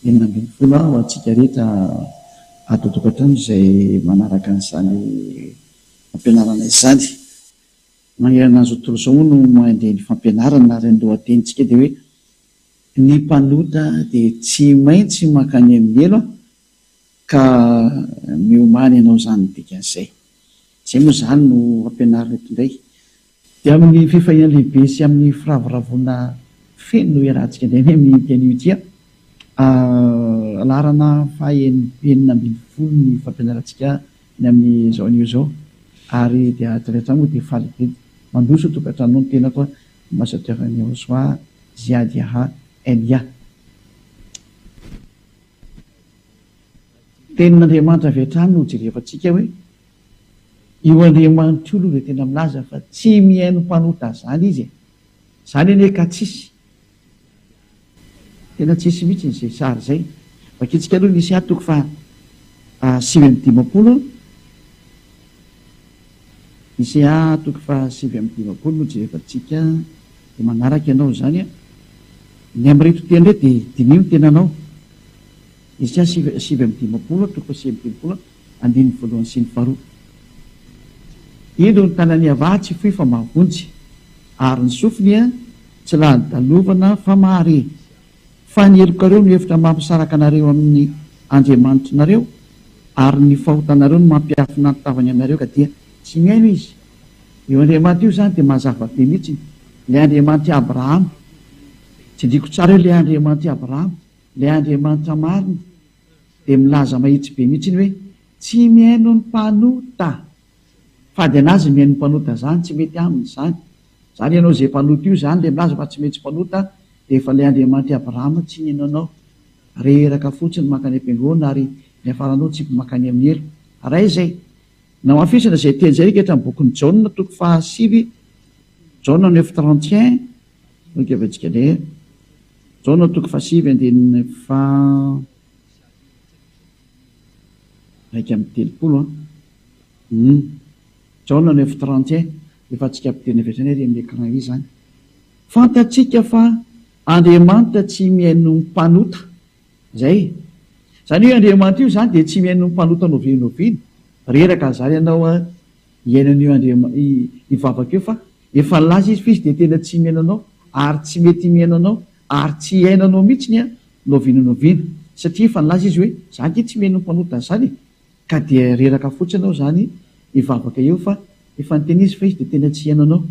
Enina ambin'ny folo ha ho antsika rehetra ato an-tokantrano izay manaraka an'izany fampianarana izany. Manerana an'izao tontolo izao moa no mandeha ny fampianarana ary ny lohatenintsika dia hoe Ny mpanota dia tsy maintsy mankany amin'ny helo ka miomany hanao izany ny dikan'izay. Izay moa izany no ampianarina eto indray. Dia amin'ny fifaliana lehibe sy amin'ny firavoravoana feno no iarahantsika indray ny amin'ity anio ity an! Ahh, laharana faha enina ambin'ny folo ny fampianarantsika ny amin'izao anio izao ary dia avy hatrany moa dia faly be dia mandroso tokantranonao ny tenako an! Ambassadeur Nirosoa Ziady Aha, NIA. Tenin'Andriamanitra avy hatrany no hojerevantsika hoe io Andriamanitra io aloha dia tena milaza fa tsy mihaino mpanota izany izy e! Izany anie ka tsisy, tena tsisy mihitsy izay sary izay. Vakintsika aloha ny Isa toko faha sivy amby dimampolo. Isaiah toko faha sivy amby dimampolo no jerevantsika dia manaraka ianao izany a! Ny amin'ireto teny ireto dia diniho ny tenanao. Isaiah sivy sivy amby dimampolo toko faha sivy amby dimampolo andininy voalohany sy ny faharoa. Indro ny tanan'i Yavah tsy fohy fa mahavonjy, ary ny sofiny tsy lany dalovana fa mahare. Fa ny helokareo no efitra mampisaraka anareo amin'ny Andriamanitrinareo, ary ny fahotanareo no mampiafina ny tavany aminareo ka dia tsy mihaino izy. Io Andriamanitra io izany dia mazava be mihitsiny, ilay Andriamanitry Abrahama. Tsindriako tsara io, ilay Andriamanitry Abrahama, ilay Andriamanitra marina, dia milaza mahitsy be mihitsiny hoe, Tsy mihaino ny mpanota! Fady an'azy ny mihaino ny mpanota izany, tsy mety aminy izany. Zany ianao ze mpanota io zany le milaza fa tsy mety mpanota efa le Andriamanitra i Abraham tsy nino anao reraka fotsiny mankany ampengona ary niafaranao tsipy mankany aminy helo ray zay namafisana zay teny zay reketra am bokiny jaona toko faha sivy jaona neuf trente et un no keventsika le jaona toko faha sivy andininy faha raika am telopolo an jaona neuf trente et un Efa antsika mpiteny avy hatrany ary amin'ny écran izany. Fantatsika fa Andriamanitra tsy mihaino ny mpanota. Izay. Izany hoe Andriamanitra io izany dia tsy mihaino ny mpanota noviany noviany. Reraka ary izany ianao hihaino an'io Andriama, io vavaka io fa efa nilaza Izy fa Izy dia tena tsy mihaino anao ary tsy mety mihaino anao ary tsy hihaino anao mihitsy ny noviana noviana satria efa nilaza Izy hoe, Za ange tsy mihaino ny mpanota an'izany e. Ka dia reraka fotsiny aho izany hivavaka eo fa efa niteny izy fa izy dia tena tsy hihaino anao.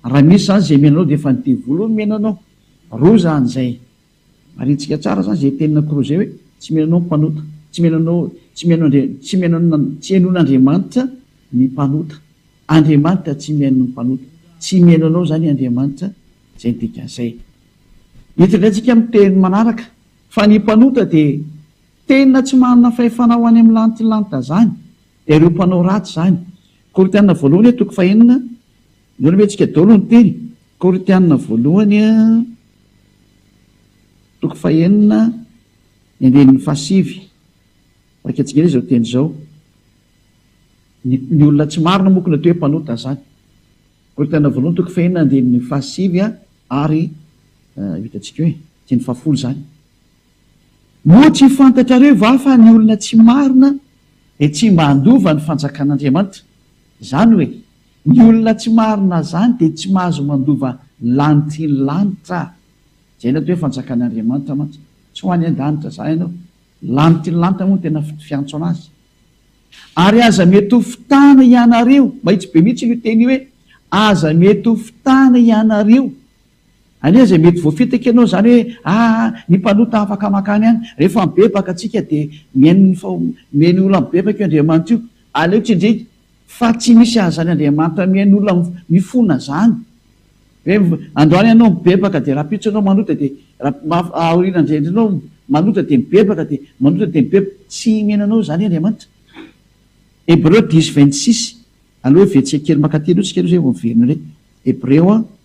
Raha misy izany izay mihaino anao dia efa ny devoly hono mihaino anao. Roa izany izay. Marintsika tsara izany izay tenin'i Cruz izay hoe tsy mihaino anao ny mpanota. Tsy mihaino anao, tsy mihaino Andria, tsy mihaino an'i, tsy hihainoan'Andriamanitra ny mpanota. Andriamanitra tsy mihaino ny mpanota. Tsy mihaino anao izany Andriamanitra. Izay ny dikan'izay. Mety indray isika amin'ny teny manaraka fa ny mpanota dia Tena tsy manana fahefana ho any amin'ny lantilanta zany ireo mpanao ratsy zany. Korintiana voalohany toko fahenina, inoana ve tsika daolo ny teny? Korintiana voalohany toko fahenina ny andininy fahasivy, vakia tsika izao teny izao, ny ny olona tsy marina moa ko natao hoe mpanota zany. Korintiana voalohany toko fahenina andininy fahasivy ary vita tsika hoe andininy fahafolo zany. Moa tsy fantatrareo va fa ny olona tsy marina dia tsy mba handova ny fanjakan'Andriamanitra? Izany hoe, ny olona tsy marina izany dia tsy mahazo mandova ny lanitry ny lanitra. Izay no atao hoe fanjakan'Andriamanitra mantsy. Tsy ho any an-danitra izany ianao. Ny lanitry ny lanitra moa no tena fiantso an'azy. Ary aza mety ho fitana hianareo, mahitsy be mihitsy io teny io hoe aza mety ho fitana hianareo Anie izay mety voafitaka ianao izany hoe aa ny mpanota afaka mankany any. Rehefa mibebaka tsika dia mihaino ny mihaino olona mibebaka io Andriamanitra io. Aleo tsindrika fa tsy misy azany Andriamanitra mihaino olona mifona izany. Hoe androany ianao mibebaka dia rahampitso ianao manota dia aoriana indray ianao manota dia mibebaka dia manota dia mibebaka. Tsy mihaino anao izany Andriamanitra. Hebreo dix vingt six. Aleo hevetsika kely mankaty aloha tsika aloha izay vao miverina indray. Hebreo.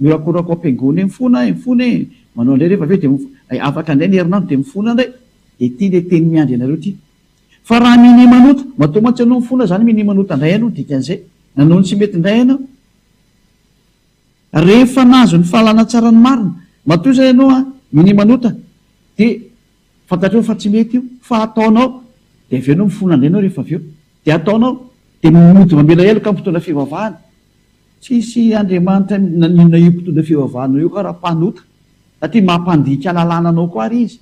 Miorakoraka ao am-piangonana eny foana aho, eny foana e! Manao indray rehefa avy eo dia mif. Hay afaka indray ny herinandro dia mifona indray. Dia ity ilay teny miandry anareo ity. Fa raha minia manota, matoa mantsy ianao mifona izany minia manota indray aina ho dikan'izay, nanao ny tsy mety indray aina aho. Rehefa nahazo ny fahalana tsara ny marina, matoa izany ianao an, minia manota, dia. Fantatrao fa tsy mety io fa ataonao dia avy eo enao mifona andeha enao rehefa avy eo dia ataonao dia mody mamela heloka mpitondra fivavahana tsisy Andriamanitra maninona io mpitondra fivavahanao io ka raha mpanota satria mampandika lalàna anao koa ary izy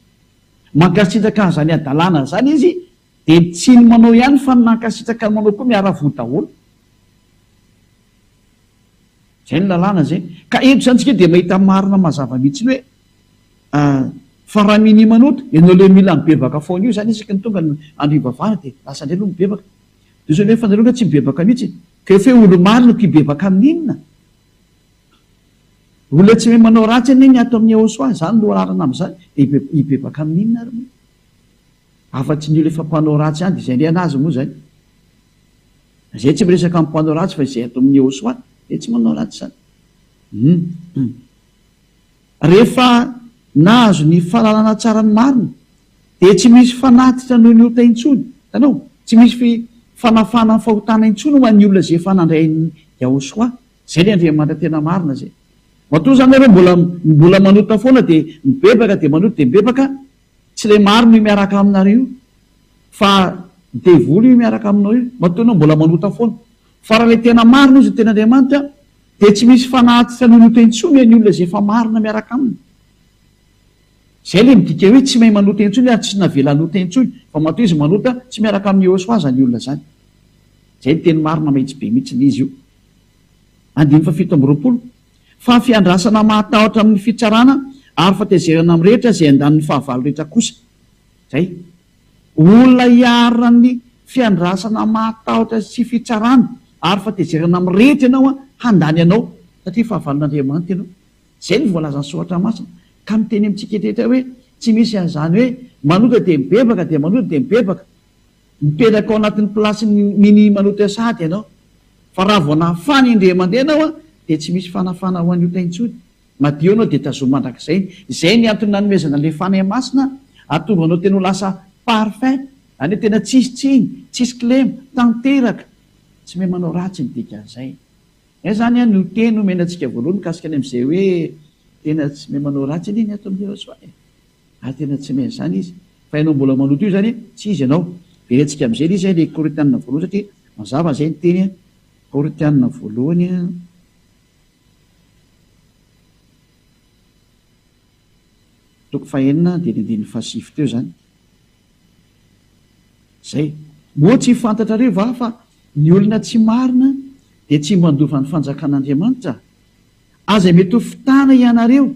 mankasitraka an'izany hadalana izany izy Dia ny tsy ny manao ihany fa ny nankasitraka ny manao koa miara-voa daholo. Izay ny lalàna izay. Ka eto izany tsika dia mahita marina mazava mihitsy ny hoe fa raha minia manoto, ianao ilay mila mibebaka foana io izany isaky ny tonga ny andro hivavahana dia lasa indray aloha mibebaka. Dia ozy hoe fa nareo nga tsy mibebaka mihitsy. Ka efa hoe olo-marina ko hibebaka amin'ny inona? Olona tsy mahay manao ratsy anie ny ato amin'ny Yahoswah, izany no laharana amin'izany, dia hibebaka amin'ny inona ary moa? Afa tsy ny olo efa mpanao ratsy ihany dia izay indray anazy moa izay. Izay tsy miresaka amin'ny mpanao ratsy fa izay ato amin'ny Yehoswa dia tsy manao ratsy izany. Hum. Rehefa nahazo ny fahalalana tsara ny marina dia tsy misy fanatitra noho ny ota intsony. Hitanao? Tsy misy fanafahana ny fahotana intsony ho an'ny olona izay efa nandray an'i Yahoswa. Izay ilay Andriamanitra tena marina izay. Matoa izany ianao mbola mbola manota foana dia mibebaka dia manota dia mibebaka, Tsy le marina io miaraka aminareo io fa devoly io miaraka aminao io matoa enao mbola manota foana fa raha le tena marina izy no teny Andriamanitra dia tsy misy fanahy tsy hanonota intsony e ny olona izay efa marina miaraka aminy zay le midika hoe tsy mahay manota intsony ary tsy navela hanota intsony fa matoa izy manota tsy miaraka amin'ny Yehoswa zany olona zany zay ny teny marina mahitsy be mihitsy ny izy io andininy fahafito amby roapolo fa fiandrasana mahatahotra amin'ny fitsarana ary fahatezerana amin'ny rehetra izay andaniny fahavalo rehetra kosa izay. Olona hiarina amin'ny fiandrasana mahatahotra sy fitsarana ary fahatezerana amin'ny rehetra ianao handany anao satria fahavalon'Andriamanitra ianao. Izay no voalazan'ny soratra masina ka miteny amintsika rehetra hoe tsy misy an'izany hoe manota dia mibebaka dia manota dia mibebaka Mipetraka ao anatin'ny plasin'ny Mini Manotea Sahady ianao, fa raha vao nafana indray mandeha ianao dia tsy misy fanafana ho an'ny ota intsony, madio ianao dia tazomy mandrakizay, izay ny antony nanomezana an'ilay Fanahy Masina hahatonga anao tena ho lasa parfum, any hoe tena tsisy tsiny, tsisy kilema, tanteraka, tsy mahay manao ratsy ny dikan'izay. Izay izany an no teny omena antsika voalohany mikasika ny amin'izay hoe tena tsy mahay manao ratsy anie ny ato amin'i Jesoa e! Ah tena tsy main zany izy fa ianao mbola maloto io zany tsy izy ianao verentsika amizay lay izay lay koritianina voalohany satria mazava izay ny teny koritianina voalohany an toko fahenina an dia ny andininy fahasivy teo zany zay moa tsy fantatrareo va fa ny olona tsy marina dia tsy mba handova ny fanjakan'Andriamanitra aza mety ho fitana ianareo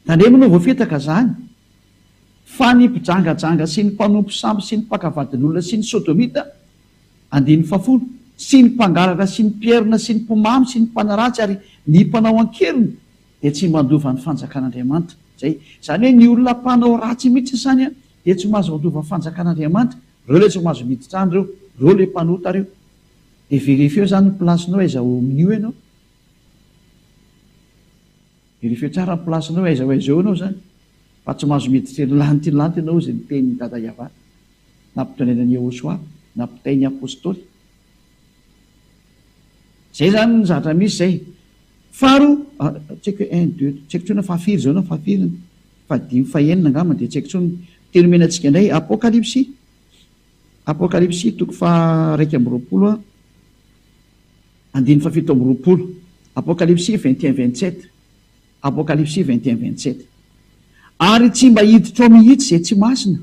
Tandremo no voafitaka zany fa ny mpijangajanga sy ny mpanompo sambo sy ny mpaka vadin'olona sy ny sodomita, andininy fahafolo, sy ny mpangalatra sy ny mpierona sy ny mpimamy sy ny mpanaratsy ary ny mpanao an-keriny dia tsy mandova ny fanjakan'Andriamanitra. Izay izany hoe ny olona mpanao ratsy mihitsy izany dia tsy mahazo mandova fanjakan'Andriamanitra, reo ilay tsy mahazo miditra any reo, reo ilay mpanota reo. Dia verifieo izany ny place-nao aiza ao amin'io ianao. Verifieo tsara ny place nao aiza ho aiza eo enao zany fa tsy mahazo miditra ery lanitra ery lanitra enao izay ny tehin ny dada Yavah nampitondraina an Yehosua nampitainy apostoly zay zany ny zavatra misy zay faharoa ah, tsy haiko hoe un deux tsy haiko tsony fahafiry zao na fahafiry ny fahadimy fahenina angamba dia tsy haiko tsony teny omena antsika indray apokalypsy apokalypsy toko faha raika amby roapolo a Andininy fahafito amby roapolo, Apokalipsy vingt et un vingt sept, Apokalipsy vingt et un vingt sept. Ary tsy mba hiditra ao mihitsy izay tsy masina,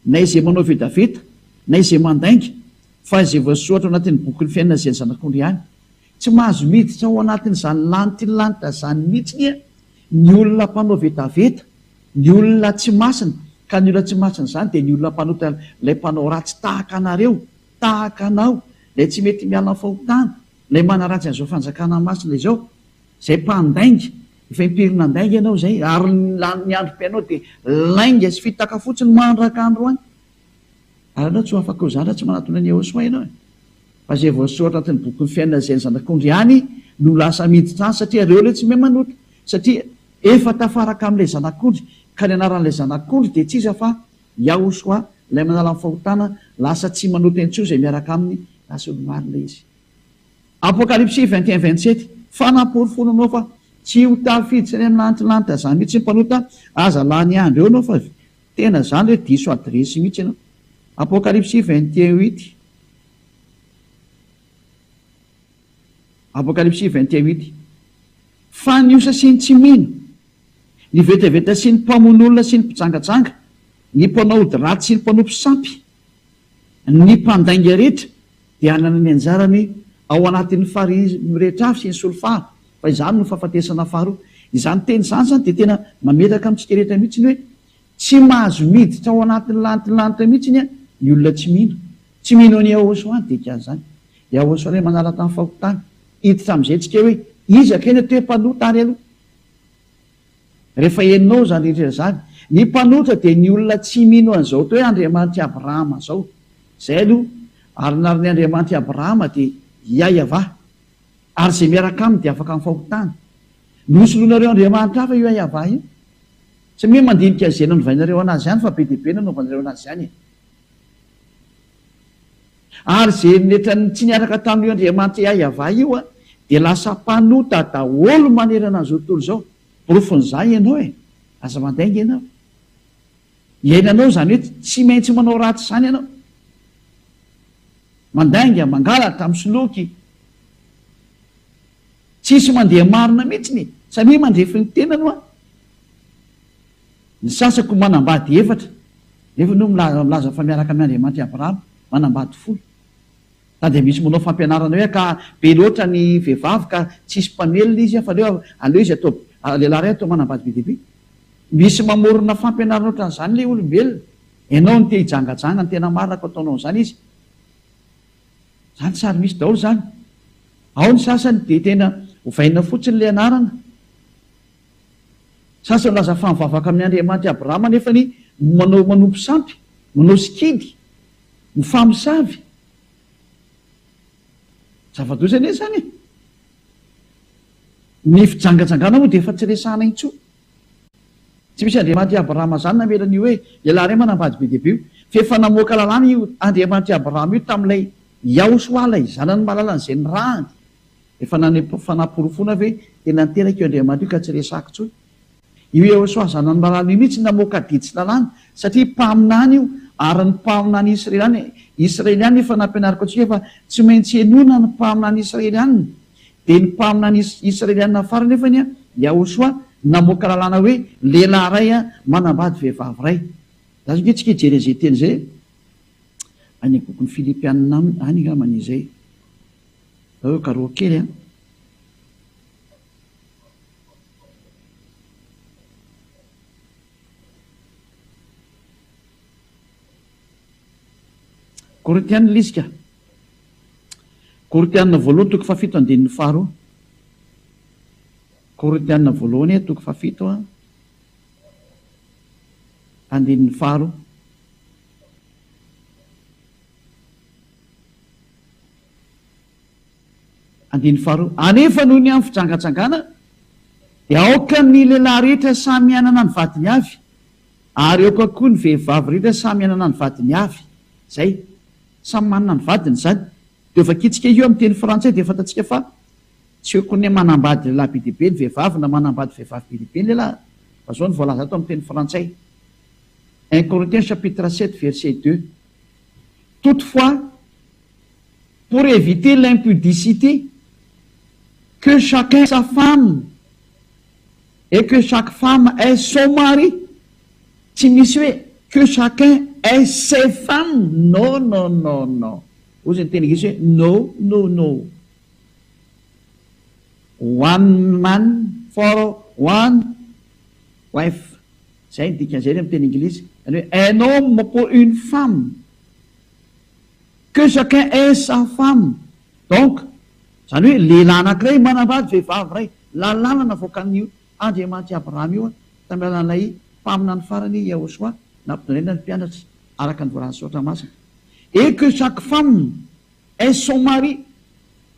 na izay manao vetaveta, na izay mandainga, fa izay voasoratra ao anatin'ny bokin'ny fiainana izay ny Zanak'ondry ihany. Tsy mahazo miditra ao anatin'izany lanitry ny lanitra izany mihitsy anie ny olona mpanao vetaveta, ny olona tsy masina, ka ny olona tsy masina izany dia ny olona mpanota ilay mpanao ratsy tahaka anareo, Tahaka anao, ilay tsy mety miala amin'ny fahotana, ilay manaratsy an'izao fanjakana masina izao, izay mpandainga, efa impiry nandainga ianao izay, ary ny lanin'ny androm-piainao dia lainga sy fitaka fotsiny mandraka androany. Ary ianao tsy ho afaka ho zandry raha tsy manatona an'i Yehosua ianao e! Fa izay voasoratra anatin'ny bokin'ny fiainana izay ny zanak'ondry ihany no lasa miditra any, satria ireo ilay tsy mahay manota, satria efa tafaraka amin'ilay zanak'ondry, ka ny anaran'ilay zanak'ondry dia tsy iza fa. Yahushua, Ilay manala ny fahotana, lasa tsy manota intsony izay miaraka Aminy, raha tsy olo-marina izy. Apokalypsy vingt et un vingt sept, Fanamporofoana anao fa tsy ho tafiditra any amin'ny lantilanitra izany mihitsy ny mpanota, aza lany andro eo ianao fa avy tena izany hoe diso adiresy mihitsy ianao. Apokalypsy vingt et un huit, Apokalypsy vingt et un huit, Fa ny osa sy ny tsy mino, Ny vetaveta sy ny mpamono olona sy ny mpijangajanga, ny mpanao ody ratsy sy ny mpanompo sampy, ny mpandainga rehetra dia hanana ny anjarany ao anatin'ny farihy mirehitra avy sy ny solifara, fa izany no fahafatesana faharoa. Izany teny izany izany dia tena mamelaka amintsika rehetra mihitsy hoe tsy mahazo miditra ao anatin'ny lanitry ny lanitra mihitsy ny ny olona tsy mino. Tsy mino an'i Yahoshua ny dikan'izany. Yahoshua ilay manala tany fahotany. Hiditra amin'izay tsika hoe iza kay no toe-panota ary aloha. Rehefa henonao izany rehetra izany, ny mpanotra dia ny olona tsy mino an'izao atao hoe Andriamanitr'i Abrahama izao. Izay aloha, ary ny arin'ny Andriamanitr'i Abrahama dia Iahiavah, ary izay miaraka aminy dia afaka amin'ny fahotana. Nosoloinareo andriamanitra hafa io Iahiavah io. Tsy mino mandinika izay nanovainareo an'azy ihany fa be dia be nanaovanareo an'azy ihany e. Ary izay eritreritran'ny tsy niaraka tamin'io Andriamanitra Iahiavah io dia lasa mpanota daholo manerana an'izao tontolo izao. Porofon'izany ianao e! Aza mandainga ianao. Iainanao izany hoe tsy maintsy manao ratsy izany ianao. Mandainga, mangalatra, misoloky. Tsisy mandeha marina mihitsy ny, samia mandrefy ny tenany hoa. Ny sasako manambady efatra, nefa no milaza fa miaraka amin' Andriamanitra i Abrahama, manambady folo. Na dia misy manao fampianarana hoe ka be loatra ny vehivavy ka tsisy mpamelona izy fa aleo aleo izy atao lehilahy iray atao manambady be dia be. Misy mamorona fampianarana ohatran' izany ilay olombelona. Ianao no te hijangajanga, ny tena marina ka ataonao an'izany izy. Izany tsy ary misy daholo izany. Ao ny sasany dia tena ovaina fotsiny ilay anarana Sasany milaza fa mivavaka amin'ny Andriamanitra i Abrahama nefa ny manao manompo sampy, manao sikidy, mifamosavy. Zava-doza anie izany e! Ny fijangajangana moa dia efa tsy resahana intsony. Tsy misy Andriamanitra i Abrahama izany namela an'io hoe lehilahy iray manambady be dia be io, fa efa namoaka lalàna io Andriamanitra i Abrahama io tamin'ilay Yahosoa ilay zanany malalany izay nirahany. Efa nanepo fanaporofoana ve tena niteraka io Andriamanitra io ka tsy resahako intsony? Io Yehosoa zanan'i Marana io mihitsy namoaka didy tsy lalàna satria mpaminany io ary ny mpaminany Israeliana Israeliana efa nampianariko antsika fa tsy maintsy henoina ny mpaminany Israeliana dia ny mpaminany Israeliana farany anefa ny Yahosoa namoaka lalàna hoe lehilahy iray manambady vehivavy iray za zao antsika hijery an'izay teny izay any bokin'ny Filipiana any angambany izay Nareo garoa kely an! Korintiana lisika Korintiana voaloha toko fahafito andininy faharoa Korintiana voalohany toko fahafito a andininy faharoa Andininy faharoa, Anefa noho ny amin'ny fijangajangana dia aoka ny lehilahy rehetra samy hanana ny vadiny avy, ary aoka koa ny vehivavy rehetra samy hanana ny vadiny avy. Izay. Samy manana ny vadiny izany. Dia ho vakiantsika io amin'ny teny frantsay dia fantatsika fa tsy hoe kone manambady lehilahy be dia be ny vehivavy na manambady vehivavy be dia be ny lehilahy fa izao no voalaza ato amin'ny teny frantsay, un Corinthiens chapitre sept verset deux, Toutefois, pour éviter l'impudicité, que chacun sa femme et que chaque femme ait son mari, tsy misy hoe que chacun ait ses femmes, no no no no, hoy izay niteny gasy hoe no no no, one man for one wife, izay ny dikan'izay anie amin'ny teny Anglisy, izany hoe un homme pour une femme. Que chacun ait sa femme, donc zany hoe lehilahy anakiray manambady vehivavy iray, lalàna navoakan'i Andriamanitra i Abrahama io tamin'ny alalan'ilay mpaminany farany Yahoshua nampitondraina ny mpianatra araka ny voalazan'ny soratra masina, et que chaque femme ait son mari,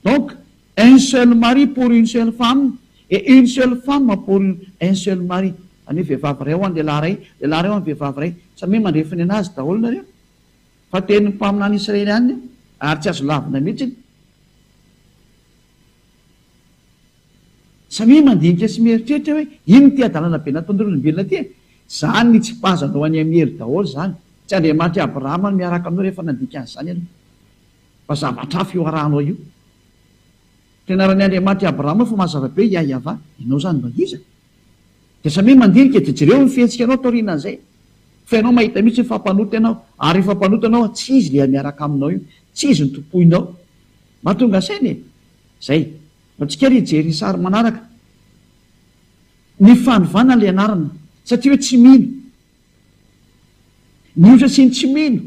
donc un seul mari pour une seule femme et une seule femme pour un seul mari, zany hoe vehivavy iray ho an'ny lehilahy iray, lehilahy iray ho an'ny vehivavy iray, samia mandre finoana azy daholo nareo. Fa tenin'ny mpaminany israelianina io, ary tsy azo lavina mihitsy. Samia mandinika sy mieritreritra hoe, Inona ity hadalana be nataon'ireo olombelona ity e? Izany nitsipazanao an'i Amiely daholo izany. Tsy Andriamanitr'i Abrahama no miaraka aminao rehefa nandika an'izany ianao. Fa zavatra hafa io arahanao io. Fianaran'i Andriamanitr'i Abrahama fa mazava be i Yahyavah. Ianao izany mba iza? Dia samia mandinika dia jereo ny fihetsikanao taorianan'izay fa ianao mahita mihitsy hoe fa mpanota ianao ary rehefa mpanota ianao tsy izy ilay miaraka aminao io, tsy izy no tompoinao. Mahatonga saina e! Izay. Antsika ary hijery ny sary manaraka. Ny fanovana ilay anarana satria hoe tsy mino. Mihoatra sy ny tsy mino.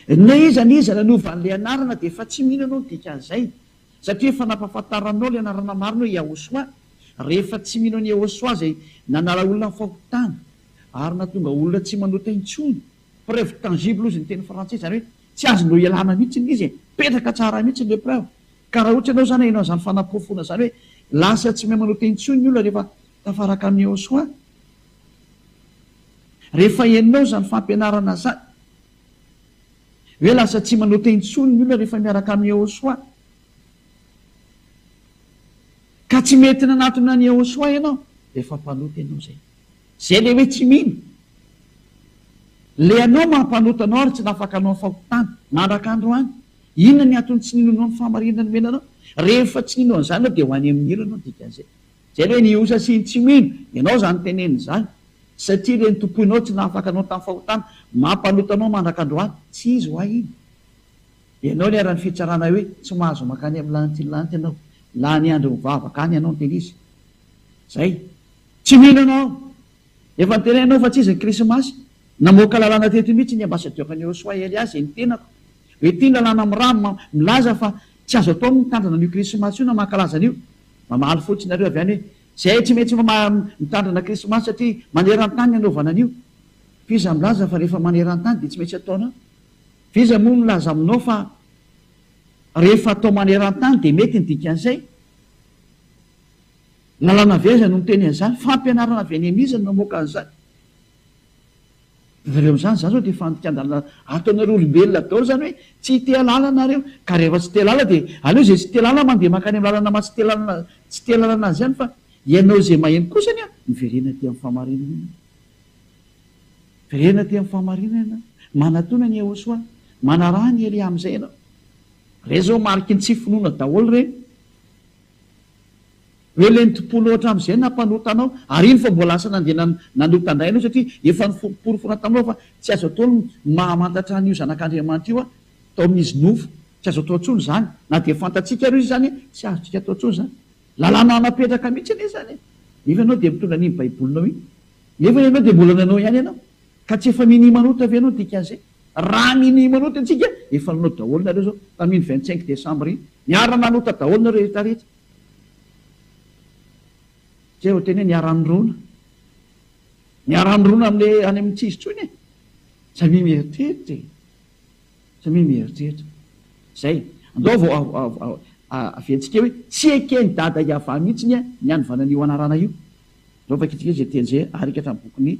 Na iza na iza nanova an'ilay anarana dia efa tsy mino ianao ny dikan'izay. Satria efa nampahafantaranao ilay anarana marina hoe Yahosoa, rehefa tsy mino an'i Yahosoa izay nanala olona amin'ny fahotana ary nahatonga olona tsy manota intsony. Preuve tangible hozy ny teny frantsay, izany hoe tsy azonao ialana mihitsy ilay izy e! Mipetraka tsara mihitsy ilay preuve. Ka raha ohatra ianao izany haino an'izany fanaporofoana izany hoe lasa tsy mahay manota intsony ny olona rehefa tafaraka amin'i Yahosoa, rehefa henonao izany fampianarana izany, Hoe lasa tsy manota intsony ny olona rehefa miaraka amin'i Yehosua. Ka tsy mety nanatona an'i Yehosua ianao, efa mpanota ianao izay. Izay ilay hoe tsy mino. Ilay anao maha-mpanota anao ary tsy nafaka hanao ny fahotana, mandraka androany. Inona ny antony tsy ninoanao ny fahamarinana nomena anao? Rehefa tsy nino an'izany ianao dia ho any amin'ny helo ianao, dikan'izay. Izay ve ny osa sy ny tsy mino? Ianao izany tenenina izany, satria ireny tompoinao tsy nahafaka anao tamin'ny fahotana, mampaloto anao mandrak'androany. Tsy izy ho'a iny. Ianao niharan'ny fitsarana hoe tsy mahazo mankany amin'ny lanitry ny lanitra ianao. Lany andro mivavaka any ianao no tena izy. Izay. Tsy mino ianao. Efa noteneninao fa tsy izy ny Krismasy. Namoaka lalàna teto mihitsy ny ambasadiora ny Yosua Elias izay nitenako hoe ity ny lalàna milaza fa tsy azo atao ny mitandrina an'io Krismasy io na mankalaza an'io. Mamaly fotsiny nareo avy any hoe zay tsy maintsy mitandrina krismasy satria manerantany ny anaovana an'io. F'iza milaza fa rehefa manerantany dia tsy maintsy ataonao? F'iza moa milaza aminao fa rehefa atao manerantany dia mety ny dikan'izay? Lalàna avy aiza no miteny an'izany? Fampianarana avy any amin'iza no namoaka an'izany? Nareo amin'izany za zao dia fandikan-dalana ato anareo olombelona daolo zany hoe tsy hiteha lala nareo ka rehefa tsy te lala dia aleo izay tsy te lala mandeha mankany amin'ny lalana maha tsy te tsy te lalana azy ihany fa ianao izay maheno kosa anie miverena aty amin'ny fahamarinana ianao miverena aty amin'ny fahamarinana ianao manatona ny Yehosoa manaraha ny Elia amin'izay ianao ireny zao mariky ny tsy finoana daolo ireny Hoe lenti-po loatra amin'izay nampanota anao, ary iny vao mbola lasa nandeha nanota indray ianao, satria efa noporofoina taminao fa tsy azo atao ny mahamantatra an'io Zanak'Andriamanitra io tao amin'izy nofo. Tsy azo atao intsony izany. Na dia fantatsika ary izy izany, tsy azontsika atao intsony izany. Lalàna napetraka mihitsy anie izany e! Nefa ianao dia mitondra an'iny Baibolinao iny, nefa ianao dia mbola nanao ihany ianao. Ka tsy efa minia manota ve ianao dikan'izay? Raha minia manota antsika, efa nanao daholo nareo zao, tamin vingt cinq decembre iny, niara nanota daholo nareo rehetra rehetra, zay vao tena hoe niara nirona, niara nirona amle any amin tsy izy tsony e, samia mieritreritra e, samia mieritreritra, zay, andao vao aventsika hoe tsy eken dada Yavah mihitsiny ny anivana anio anarana io, andao vakitsika zay teny zay, arika hatramin bokiny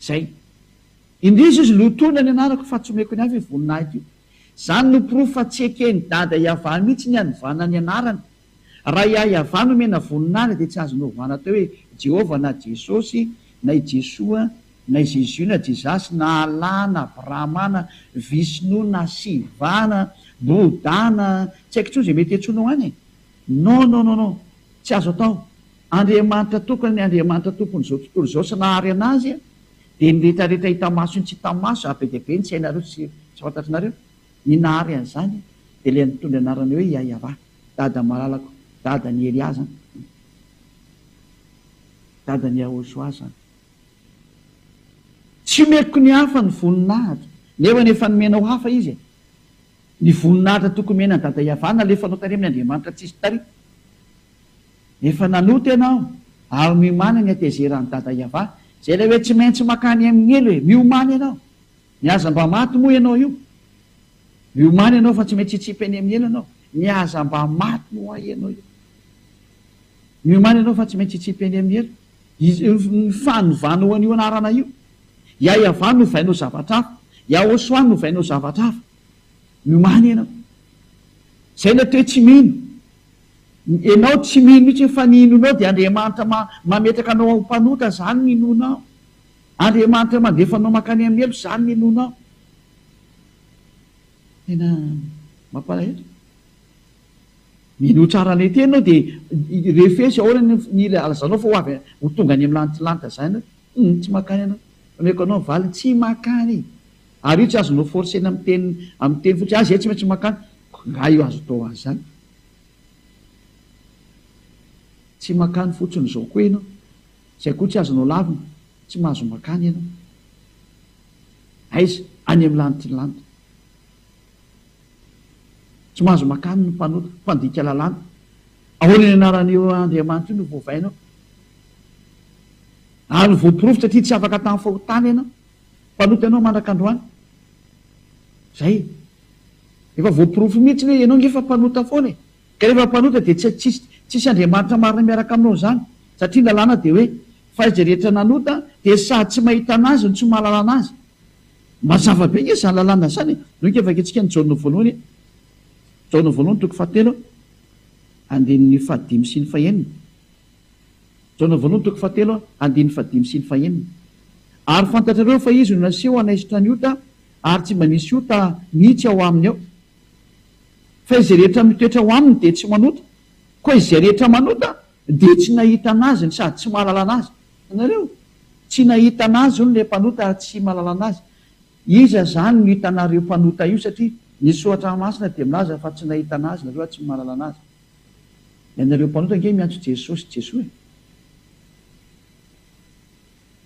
Zay. Indrisy izy lotoina ny anarako fa tsy omeko ny hafa io voninahiko io. Zany no porofo fa tsy eken'i Dada Yavah mihitsy ny hanovana ny anarany. Raha i Ayavah no omena voninahitra dia tsy azonao ovana atao hoe Jehovah na Jesosy na i Jesoa na i Zezio na Jezasy na Allah na Brahma na Vishnou na Shiva na Bouddha na tsy haiko intsony izay mety hiantsoanao any e. Non non non non. Tsy azo atao. Andriamanitra tokana ny Andriamanitra Tompon'izao tontolo izao sy nahary an'azy dia ny rehetrarehetra hita maso sy ny tsy hita maso ary be dia be ny tsy hainareo sy tsy fantatr'nareo ny nahary an'izany dia ilay nitondra ny anarana hoe Iahiavà Dada malalako Dada ny Elià zany Dada ny Yahoshuah zany Tsy omeko ny hafa ny voninahitra nefany efa nomena ho hafa izy e Ny voninahitra tokony omena an'i Dada Iahiavà nalefanao tany aminy Andriamanitra tsisy tary Efa nanota ianao ary miomana ny hatezeran'i Dada Yava. Izay ilay hoe tsy maintsy makany amin'ny helo e! Miomana ianao! Ny aza mba maty moa ianao io? Miomana ianao fa tsy maintsy hitsipy any amin'ny helo ianao. Ny aza mba maty moa ianao io? Miomana ianao fa tsy maintsy hitsipy any amin'ny helo. Ny fanovanao an'io anarana io. Ya Yava novainao zavatra hafa. Ya Oswa novainao zavatra hafa. Miomana ianao. Izay ilay toe-tsy mino. Enao tsy mino mihitsy fa ny inoanao dia Andriamanitra mametraka anao ho mpanota izany ny inoanao. Andriamanitra mandefa anao mankany amin'ny heloka izany ny inoanao. Tena mampalahelo. Mino ho tsara ilay teny ianao dia refesy ahoana ny ny alazanao fa ho avy ho tonga any amin'ny lanitra lanitra izany ianao. Humm tsy mankany ianao. Omeko anao ny valiny, tsy mankany. Ary io tsy azonao forcer-na amin'ny teny amin'ny teny fotsiny, ah izay tsy maintsy mankany. Koa angaha io azo atao ho azy izany? Tsy makany fotsiny izao koa ianao. Izay koa tsy azonao lavina, tsy mahazo makany ianao. Aiza? Any amin'ny lanitry ny lanitra. Tsy mahazo makany ny mpanota, mpandika lalàna. Ahoana ny anaran'io Andriamanitra io no voavainao? Ary voaporofo satria tsy afaka tamin'ny fahotana ianao. Mpanoty anao mandraka androany. Zay. Efa voaporofo mihitsy hoe ianao nge efa mpanota foana e. Ka rehefa mpanota dia tsy tsisy tsisy Andriamanitra marina miaraka aminao zany. Satria ny lalàna dia hoe fa izay rehetra nanota dia sady tsy mahita anazy no tsy mahalala anazy. Mazava be nge zany lalàna zany e. Noho ika vakintsika ny Jaona voalohany, Jaona voalohany toko fahatelo, andininy fahadimy sy ny fahenina. Jaona voalohany toko fahatelo andininy fahadimy sy ny fahenina Ary fantatrareo fa Izy no naseho hanaisotra ny ota, ary tsy mba nisy ota mihitsy ao Aminy ao. Fa izay rehetra mitoetra ao Aminy dia tsy manota, koa izay rehetra manota dia tsy nahita an'Azy no sady tsy mahalala an'Azy. Hitanareo? Tsy nahita an'Azy hono ilay mpanota ary tsy mahalala an'Azy. Iza izany no hitanareo mpanota io? Satria ny Soratra Masina dia milaza fa tsy nahita an'Azy nareo ary tsy mahalala an'Azy. Ianareo mpanota ange miantso Jesosy Jesoa e!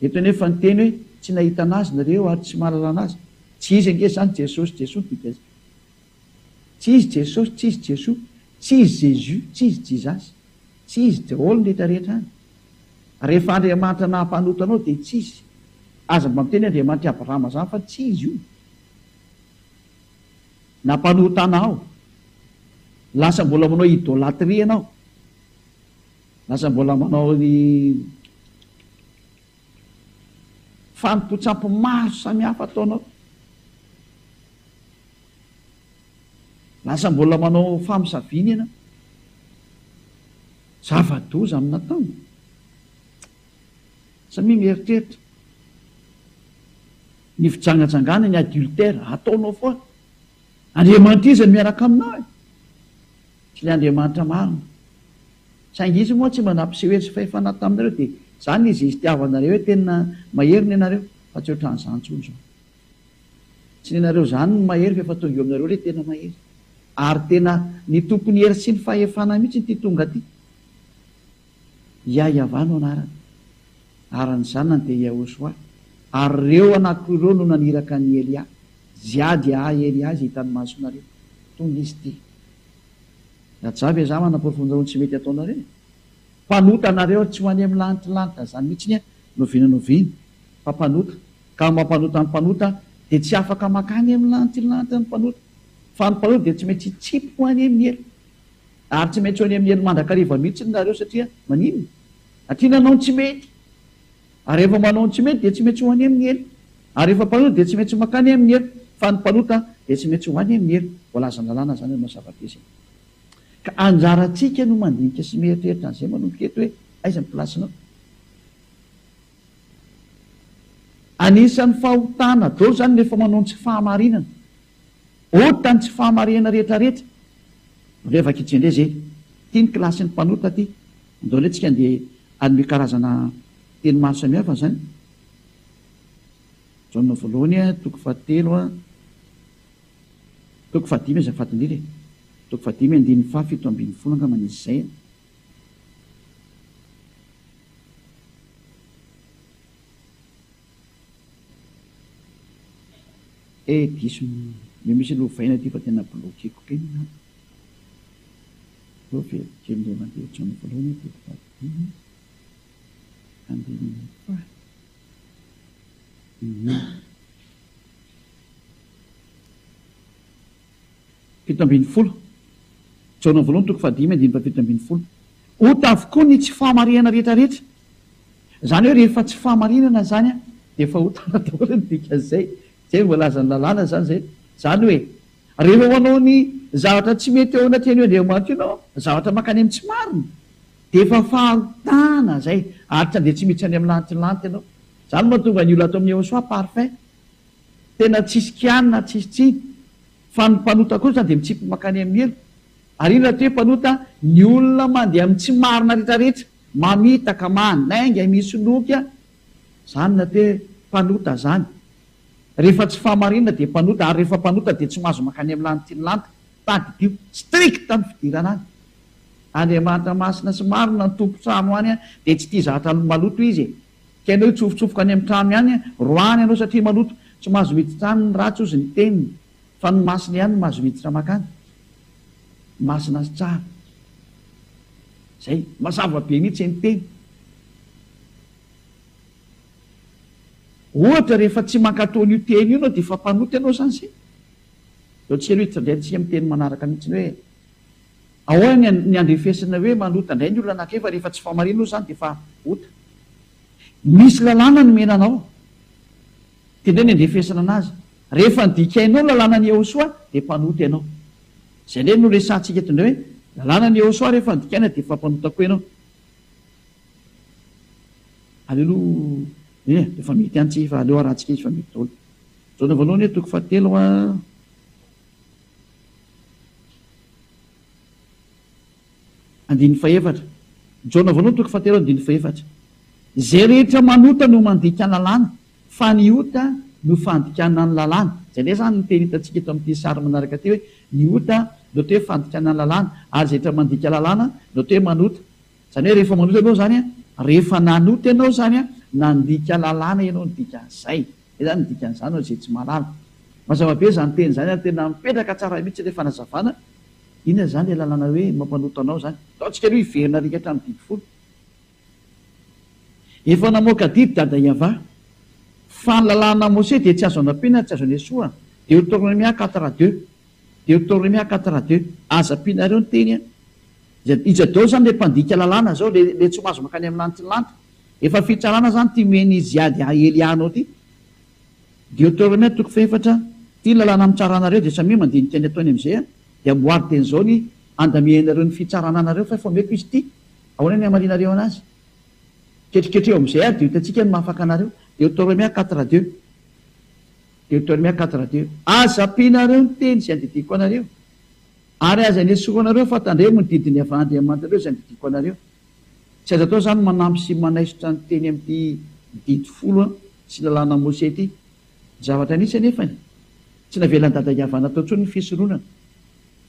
Eto anefa ny teny hoe tsy nahitana Azy nareo ary tsy mahalalana Azy. Tsy Izy ange izany Jesosy Jesoa no dika izay. Tsy Izy Jesosy, tsy Izy Jesoa, tsy Izy Jésus, tsy Izy Jizasy, tsy Izy daholo ny rehetra rehetra any. Ary rehefa Andriamanitra naha mpanota anao dia tsy Izy. Aza mba miteny Andriamanitry Abrahama izany fa tsy Izy io. Nampanotana aho. Lasa mbola manao idolatria ianao. Lasa mbola manao ny fanompoan-tsampy maro samihafa ataonao. Lasa mbola manao famosaviana ianao. Zava-doza amin'ny nataony. Samia mieritreritra. Ny fijangajangana ny adultère ataonao foana Andriamanitra iza miaraka aminao e? Tsy le Andriamanitra marina saingy izy moa tsy mba nampiseho hery sy fahefana taminareo de zany izy izy tiavanareo hoe tena mahery ny anareo fa tsy otran'izany tsony zao tsy ny anareo zany no mahery fa efa tonga eo aminareo le tena mahery ary tena ny tompon'ny hery sy ny fahefana mitsy ity tonga ty Iahiavà no anarany, ary ny zanany dia Iahôsoà, ary ireo anako ireo no naniraka an' i Elià, Jià dia ahy Elià izay hitan'ny masonareo. Tonga izy ity. Rajavy e, za manaporofo aminareo ny tsy mety ataonareo e. Mpanota nareo ary tsy ho any amin'ny lanitlanitra zany mihitsiny e, ny oviana ny oviana fa mpanota, ka ny mampanota ny mpanota dia tsy afaka makany amin'ny lanitlanitra ny mpanota, fa ny mpanota dia tsy maintsy hitsipy ho any amin'ny ela. Ary tsy maintsy ho any amin'ny helo mandrakariva mihitsy ny nareo satria maninona? Satria nanao ny tsy mety. Ary rehefa manao ny tsy mety dia tsy maintsy ho any amin'ny helo. Ary rehefa mpanota dia tsy maintsy mankany amin'ny helo. Fa ny mpanota dia tsy maintsy ho any amin'ny helo. Voalazan'ny lalàna izany hanao zava-dezy. Ka anjarantsika no mandinika sy mieritreritra an'izay manomboka eto hoe aiza ny plasinao. Anisan'ny fahotana daholo izany ny efa manao ny tsy fahamarinana. Ota ny tsy fahamarihana rehetra rehetra Ndreo efa kitchen ndreo zay Ty ny classe ny mpanota ty Ndao le tsika ndeha hanome karazana teny maro samihafa zany Jaona voalohany toko faha telo a Toko faha dimy azafady ndrindra e Toko faha dimy andininy faha fito ambin'ny folo angamba nisy izay a. Eh diso ny misy lovaina aty fa tena bloqueko be ny data. Aleo veloko kely indray mandeha hotrany voalohany aho dia mpitadidia handinihina koa aho. Hum. Fito ambin'ny folo. Jaona voalohany toko fahadimy andininy fahafito ambin'ny folo. Ota avokoa ny tsy fahamarihana rehetrarehetra. Izany hoe rehefa tsy fahamarinana izany dia efa ho tara daholo ny dikan'izay, izay no voalazan'ny lalàna izany izay, izany hoe rehefa manao ny zavatra tsy mety eo anatrehan'io Andriamanitra io ianao, zavatra mankany amin'ny tsy marina, dia efa fahotana izay ary tsy handeha tsy miditra any amin'ny lanitry ny lanitra ianao. Izany no mahatonga ny olona ato amin'i Yehosua parfait, tena tsisy kianina, tsisy tsiny, fa ny mpanota kosa dia mitsipy mankany amin'ny helo. Ary inona raha toa hoe mpanota ny olona mandeha amin'ny tsy marina rehetra rehetra? Mamitaka manainga misy loky a! Zany na te mpanota zany. Rehefa tsy fahamarinana dia mpanota ary rehefa mpanota dia tsy mahazo mankany amin'ny lany tian'ny lanitra. Tadidio, strict ny fidirana any. Andriamanitra masina sy marina ny tompon-trano any a! Dia tsy tia zahatra maloto izy e! Tianao hitsofotsofoka any amin'ny trano ihany a! Roahany ianao satria maloto. Tsy mahazo miditra any ny ratsy ozy ny teniny. Fa ny masina ihany no mahazo miditra makany. Masina sy tsara. Zay. Mazava be mihitsy ny teny. Ohatra rehefa tsy mankatò an'io teny io ianao dia efa mpanota ianao izany zay. Zao tsy aloha hitondray antsika amin'ny teny manaraka mihitsy ny hoe ahoana ny ny andrefesana hoe manota indray ny olona anankiray fa rehefa tsy fahamariana aloha izany dia efa ota. Misy lalàna nomena anao dia indray ny andrefesana anazy. Rehefa nodikainao ny lalànan'i Yehosua dia mpanota ianao. Izay indray no resahantsika eto indray hoe, lalànan'i Yehosua rehefa nodikaina dia efa mpanota koa ianao. Aleloia! Eny e, efa mety ihany tsika fa aleo harahantsika izy fa mety daholo. Jaona voalohany hoe toko fahatelo a. Andininy fahefatra. Jaona voalohany toko fahatelo andininy fahefatra. Izay rehetra manota no mandika ny lalàna. Fa ny ota no fandikana ny lalàna. Izay indray izany no teny hitantsika eto amin'ity sary manaraka ity hoe ny ota no atao hoe fandikana ny lalàna ary izay rehetra mandika lalàna no atao hoe manota. Izany hoe rehefa manota ianao izany, rehefa nanota ianao izany, nandika lalàna ianao ny dikan'izay. Izay izany ny dikan'izany ho an'izay tsy mahalala. Mazava be izany teny izany ary tena mipetraka tsara mihitsy ilay fanazavana. Inona izany ilay lalàna hoe mampanota anao izany? Ataontsika aloha hiverina arika hatramin'ny didy folo. Efa namoaka didy dada Yava. Fa ny lalàna Mose dia tsy azo anampiana ary tsy azo anesoa. Deotornomia quatre a deux. Deotornomia quatre a deux. Aza ampianareo ny teny an. I Jadot zany le mpandika lalàna zao le le tsomazo mankany am lanitry ny lanitra. Efa fitsarana zany ty meni ziady a elianao ty. Deotornomia toko fahefatra Ty ny lalàna mitsara anareo dia samia mandinika ny ataony amzay an. Dia amboary teny zao ny andamianareo ny fitsarana anareo fa efa omeko izy ty. Ahoana ny hamalianareo anazy? Ketriketreho amin'izay ary dia ho hitantsika ny mahafaka anareo. Deotoromia quatre deux. Deotoromia quatre deux. Aza ampianareo ny teny izay andidiako anareo, ary aza anesorao anareo fa tandremo ny didin'ny Avandriamanitrareo izay andidiako anareo. Tsy azo atao izany ny manampy sy manaisotra ny teny amin'ity Didy folo sy Lalàna Mose ity. Zavatra nisy anefa e! Tsy navelan'i Dada Yavana tao intsony ny fisoronana.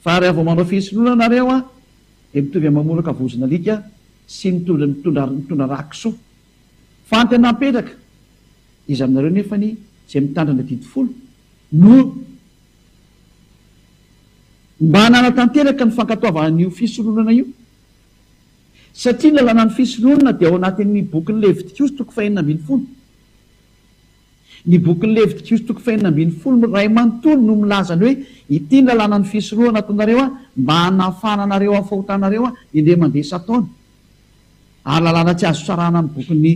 Fa raha vao manao fisoronana nareo an! dia mitovy amin'ny mamoraka vozon'alika sy mitondra mitondra mitondra rà kisoa. Fanty anà petraka. Iza aminareo nefany izay mitandrina ny adidy folo no mba nanatanteraka ny fankatoavana an'io fisoronana io? Satria ny lalànan'ny fisoronana dia ao anatin'ny bokin'i Levitikosy toko fahenina ambin'ny folo. Ny bokin'i Levitikiosy toko fahenina ambin'ny folo no iray manontolo no milaza ny hoe ity ny lalànan'ny fisorohana ataonareo mba hanafahana anareo amin'ny fahotanareo indray mandeha isan-taona. Ary lalàna tsy azo sarahana amin'ny bokin'i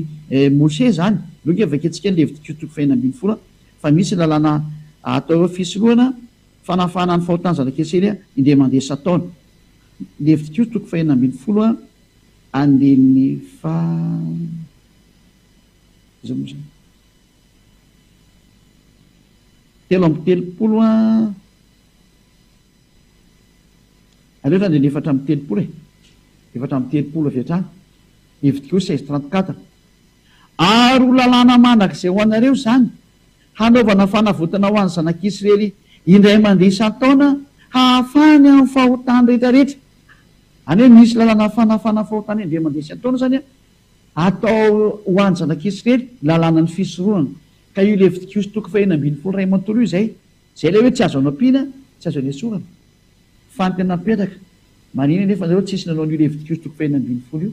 Mosè izany. Aloha ange vakiantsika ny Levitikiosy toko fahenina ambin'ny folo fa misy ny lalàna atao hoe fisorohana fanafahana ny fahotan'ny zanak'Israely indray mandeha isan-taona. Levitikiosy toko fahenina ambin'ny folo andininy faha. Telo amby telopolo a! Aleo zany dia ny efatra amby telopolo e! Efatra amby telopolo avy hatrany. Hevitriko hoe seize trente quatre. Ary ho lalàna mandrakizay ho anareo izany, hanaovana fanavotana ho an'ny zanak'Israely indray mandeha isan-taona hahafahany amin'ny fahotany rehetrarehetra. Any hoe misy lalàna fanafahana fahotany indray mandeha isan-taona izany an! Atao ho an'ny zanak'Isrely ny lalànan'ny fisorohana. Ka io Levitikoso toko fahenina ambin'ny folo iray manontolo io izay, izay ilay hoe tsy azo anampiana, tsy azo anesorana. Fa ny tena mipetraka, marihina anefa nareo tsisy nanao an'io Levitikoso toko fahenina ambin'ny folo io.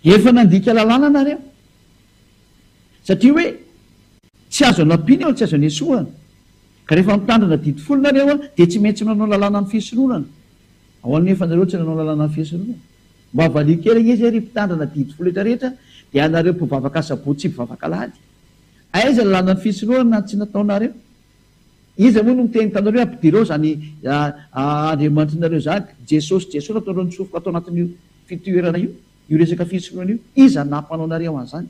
Efa nandika lalàna nareo. Satria hoe tsy azo anampiana eo ny tsy azo anesohana. Ka rehefa mitandrina didy folo nareo dia tsy maintsy manao lalànan'ny fisoronana. Ahoana anefa nareo tsy nanao lalànan'ny fisoronana? Mba valio kely anie zay ry mpitandrina didy fo rehetra rehetra de anareo mpivavaka asabotsy sy mpivavaka alahady. Aiza ny lalana ny fisorohana na ny tsy nataonareo? Iza moa no miteny tanareo hoe ampidirao zany Andriamanitrinareo zany, Jesosy Jesosy nataonareo nitsofoka tao anatin'io fitoerana io, io resaka fisorohana io, iza nampanao anareo an'zany?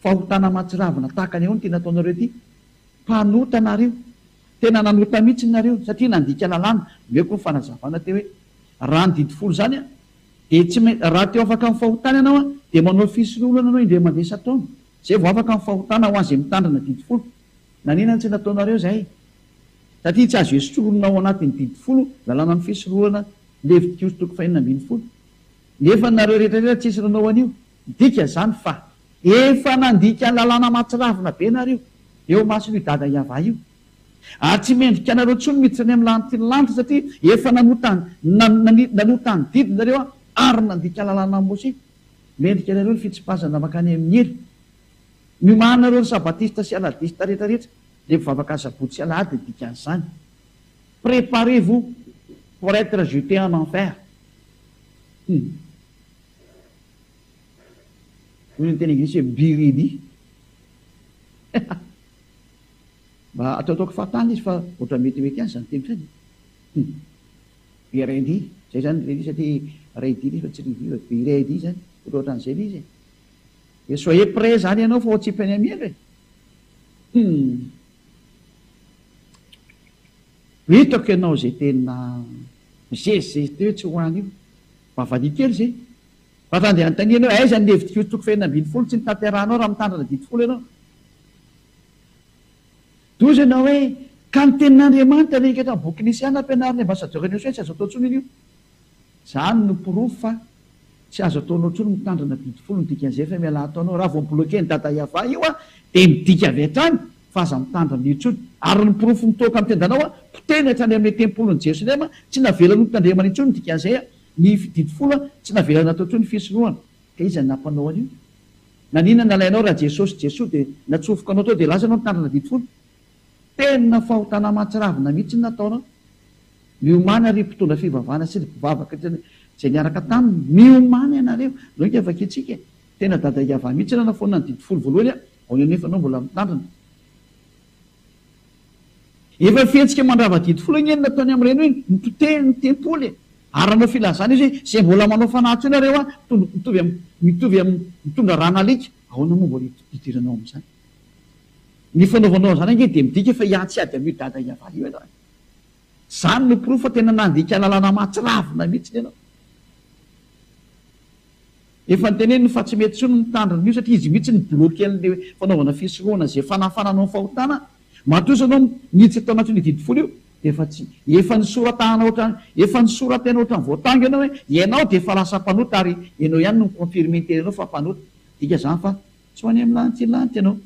Fahotana mahatsiravina tahaka ny ahoana ity nataonareo ity? Mpanota nareo. Tena nanota mihitsy nareo satria nandika lalàna, omeko koa ny fanazavana teo hoe raha ny didy folo izany dia tsy maintsy raha te ho afaka amin'ny fahotana ianao dia manao fisoloana ianao indray mandeha isan-taona izay vao afaka amin'ny fahotana ho an'izay mitandrina didy folo. Naninona tsy nataonareo izay? Satria tsy azo esoronina ao anatin'ny didy folo lalàna ny fisoloana, Levitikoso toko fahenina ambin'ny folo. Nefa nareo rehetra rehetra tsisy nanao an'io. Midika izany fa efa nandika ny lalàna mahatsiravina be ianareo eo imason'io Dada Yavah io. Ary tsy mendrika anareo intsony miditra any amin'ny lanitry ny lanitra satria efa nanota ny nanota ny didy nareo ary nandika ny lalànan'i Mose. Mendrika anareo ny fitsipazana mankany amin'ny hery. Miomana nareo ry Sabatista sy Aladista rehetra rehetra dia mivavaka Asabotsy sy Alahady ny dikan'izany. Preparez vous pour etre jete en enfer. Hum. Hoy ny teny anglisy hoe be ready. Mba ataotaoko fahatany izy fa ohatran'ny metimety ihany izany teny izany. Hum. Be ready. Izay izany ilay izy satria ready ilay izy fa tsy ready fa be ready izany. Ohatraohatran'izay ilay izy e. Dia soyez prêt izany ianao fa ohatry peny amiela e. Hum. Hitako ianao izay tena mizezizezy teo tsy ho any io. Vavahady kely izay. Raha te handeha hanontania anao hoe aiza ny Levitikoso toko fahenina ambin'ny folo tsy notanterahanao raha mitandrina didy folo ianao. Dia hoy ianao hoe ka ny tenin'Andriamanitra ve eketra ny boky Nisiana ampianarin'ny Ambassadeur an'i Josué tsy azo atao intsony io. Izany no porofo fa tsy azo ataonao intsony mitandrina didy folo ny dikan'izay fa mialà ataonao raha vao mi-bloquer an'i Dada Yavah io dia midika avy hatrany fa aza mitandrina intsony. Ary ny porofo mitoaka amin'ny tendanao a, potehina hatrany amin'ny tempolin'i Jerosalema, tsy navelany ho tandremana intsony ny dikan'izay a, ny fididy folo a, tsy navelany natao intsony ny fisorohana. Ka iza no nampanao an'io? Naninona nalainao raha Jesosy Jesoa dia natsofoka anao tao dia lasa ianao nitandrina didy folo? Tena fahotana aman-tsiravina mihitsy ny nataonao. Miomàna ry mpitondra fivavahana sy ry mpivavaka izay niaraka taminy, miomàna ianareo. Nao ika vakintsika e. Tena Dada Iavah mihitsy no nanafoanana ny didy folo voalohany a, Ahoana anefa ianao mbola mitandrina? Efa fihetsika mandrava-didy foana anie ny nataony amin'ireny hoe nipotehiny ny tempoly e! Ary nanao filazana izy hoe, izay mbola manao fanahy teo nareo an, mitombo mitovy am, mitovy am, mitondra rà nalika. Ahoana moa mbola idiranao amin'izany? Ny fanaovanao an'izany ange dia midika fa hiantsy ady amin'io dada hiavara io ianao e! Izany no porofo fa tena nandika lalana mahatsiravina mihitsiny ianao. Efa noteneniny fa tsy mety intsony ny mitandrina an'io satria izy mihitsy no bloquen'le fanaovana fisorohana ze fanafanana ho fahotana, matoa izy anao miditra tao anatin'io didy folo io de efa tsy, efa nisoratahana ohatrany, efa nisoratena ohatrany voatango ianao hoe ianao de efa lasa mpanota ary ianao ihany no mi-confirmer ny tenanao fa mpanota, midika zany fa tsy ho any amin'ny lanitra lanitra ianao,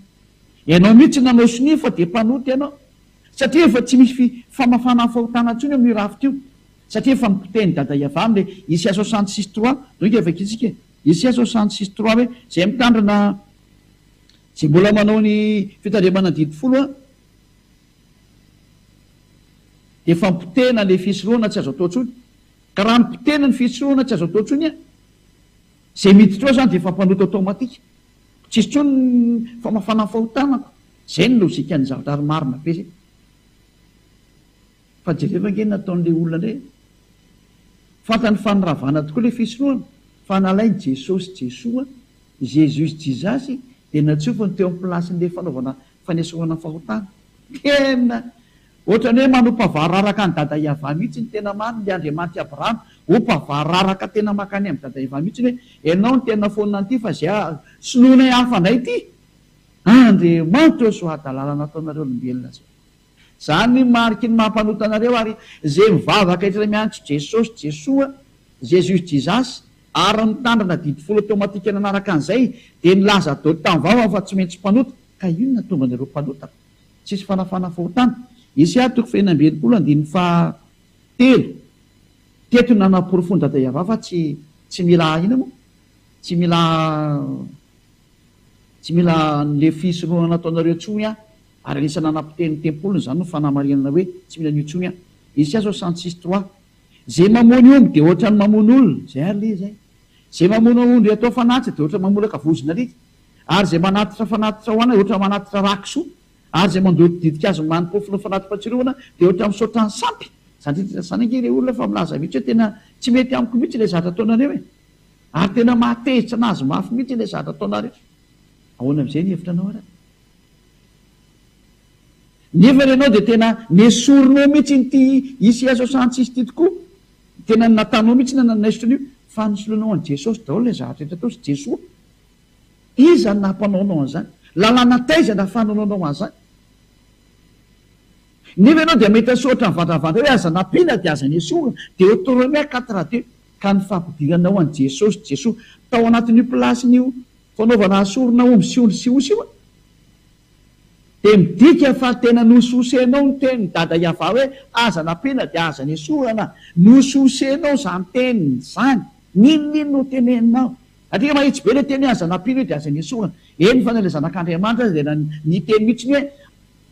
ianao mihitsy nanao sonia fa de mpanota ianao satria efa tsy misy famafana fahotana intsony eo amin'io rafitra io, Satria efa nipotehiny dada i Avram le Ici soixante six trois toy nga vaky tsika e! Ici soixante six trois hoe zay mitandrina zay mbola manao ny fitandremana didy folo a de efa nipotehina le fisorohana tsy azo atao tsony ka raha nipotehina ny fisorohana tsy azo atao tsony a zay miditra ao zany de efa mpanota automatique tsisy tsony ny famafana ny fahotanako zay ny logique ny zavatra ary marina be zay. Fa jereo ange ny nataon'ilay olona indray e! Fantany fa niravana tokoa ilay fisoloana, fa nalainy Jesosy Jesoa, Jesus Jesus, dia natsofony teo amin'ny plasin'ilay fanaovana fanesorana fahotana. Tena ohatran'ny hoe manompa vararaka an'i Dada Iavah mihitsy ny tena marina ilay Andriamanitry Abrahama, ompa vararaka tena mankany amin'i Dada Iavah mihitsy ny hoe, ianao no tena fonina an'ity fa izay soloinay hafa indray ity! Andriamanitra o! Soa hadalana nataonareo olombelona zao. Zany ny mariky ny maha mpanota anareo ary ze mivavaka eto re miantso Jesosy Jesoa Jesus Jesus ary mitandrina didy folo automatique nanaraka an'izay de nilaza dot tam vao aho fa tsy mentsy mpanota ka ino natonga anareo mpanota tsisy fanafana fahotana Esia toko fahefatra amby enimpolo andininy faha telo teto no nanaporofoan dada Yavah fa tsy tsy mila ina moa tsy mila tsy mila anle fisorohana nataonareo tsony an. Ary anisan'ny nanapotehiny tempoliny izany no fanamarinana hoe tsy mila an'io intsony aho. Isia zao cent six trois. Zay mamono omby dia ohatran'ny mamono olona. Zay ary le zay. Zay mamono ondry atao fanatitra dia ohatran'ny mamolaka vozon'alika. Ary zay manatitra fanatitra ho anay ohatran'ny manatitra rakisoa. Ary zay mandoto ditin-kazo manimpofon'ny fanati-patsiroana dia ohatran'ny misaotra an'i sampy. Za ndray tena zany ange le olona fa milaza mihitsy hoe tena tsy mety amiko mihitsy ilay zavatra ataonareo e! Ary tena mahatezitra anazy mafy mihitsy ilay zavatra ataonareo. Ahoana amin'izay ny hevitra anao ary? Nefa ianao dia tena nesorinao mihitsy iny ity Isiaso Santsisy ity tokoa. Tena ny nataonao mihitsy no nanaisotra an'io fa nisoloanao an'i Jesosy daholo ilay zavatra rehetra ataosy Jesoa. Iza no nampanaonao an'izany? Lalàna taiza no ahafahananao an'izany? Nefa ianao dia mahita soratra mivandravandra hoe aza nampiana dia aza nesorina. Deoteronomia quatre deux ka ny fampidiranao an'i Jesosy Jesoa tao anatin'io plasin'io. Fanaovana asorina omby sy ondry sy osy io an! Dia midika fa tena nosososenao ny tenin'i Dada Yavah hoe aza nampiana dia aza nesorana. Nosososenao izany teny izany. N'inon'inona ho teneninao. Satria mahitsy be ilay teny hoe aza nampiana io dia aza nesorana. Eny fa na ilay Zanak'Andriamanitra aza dia niteny mihitsy hoe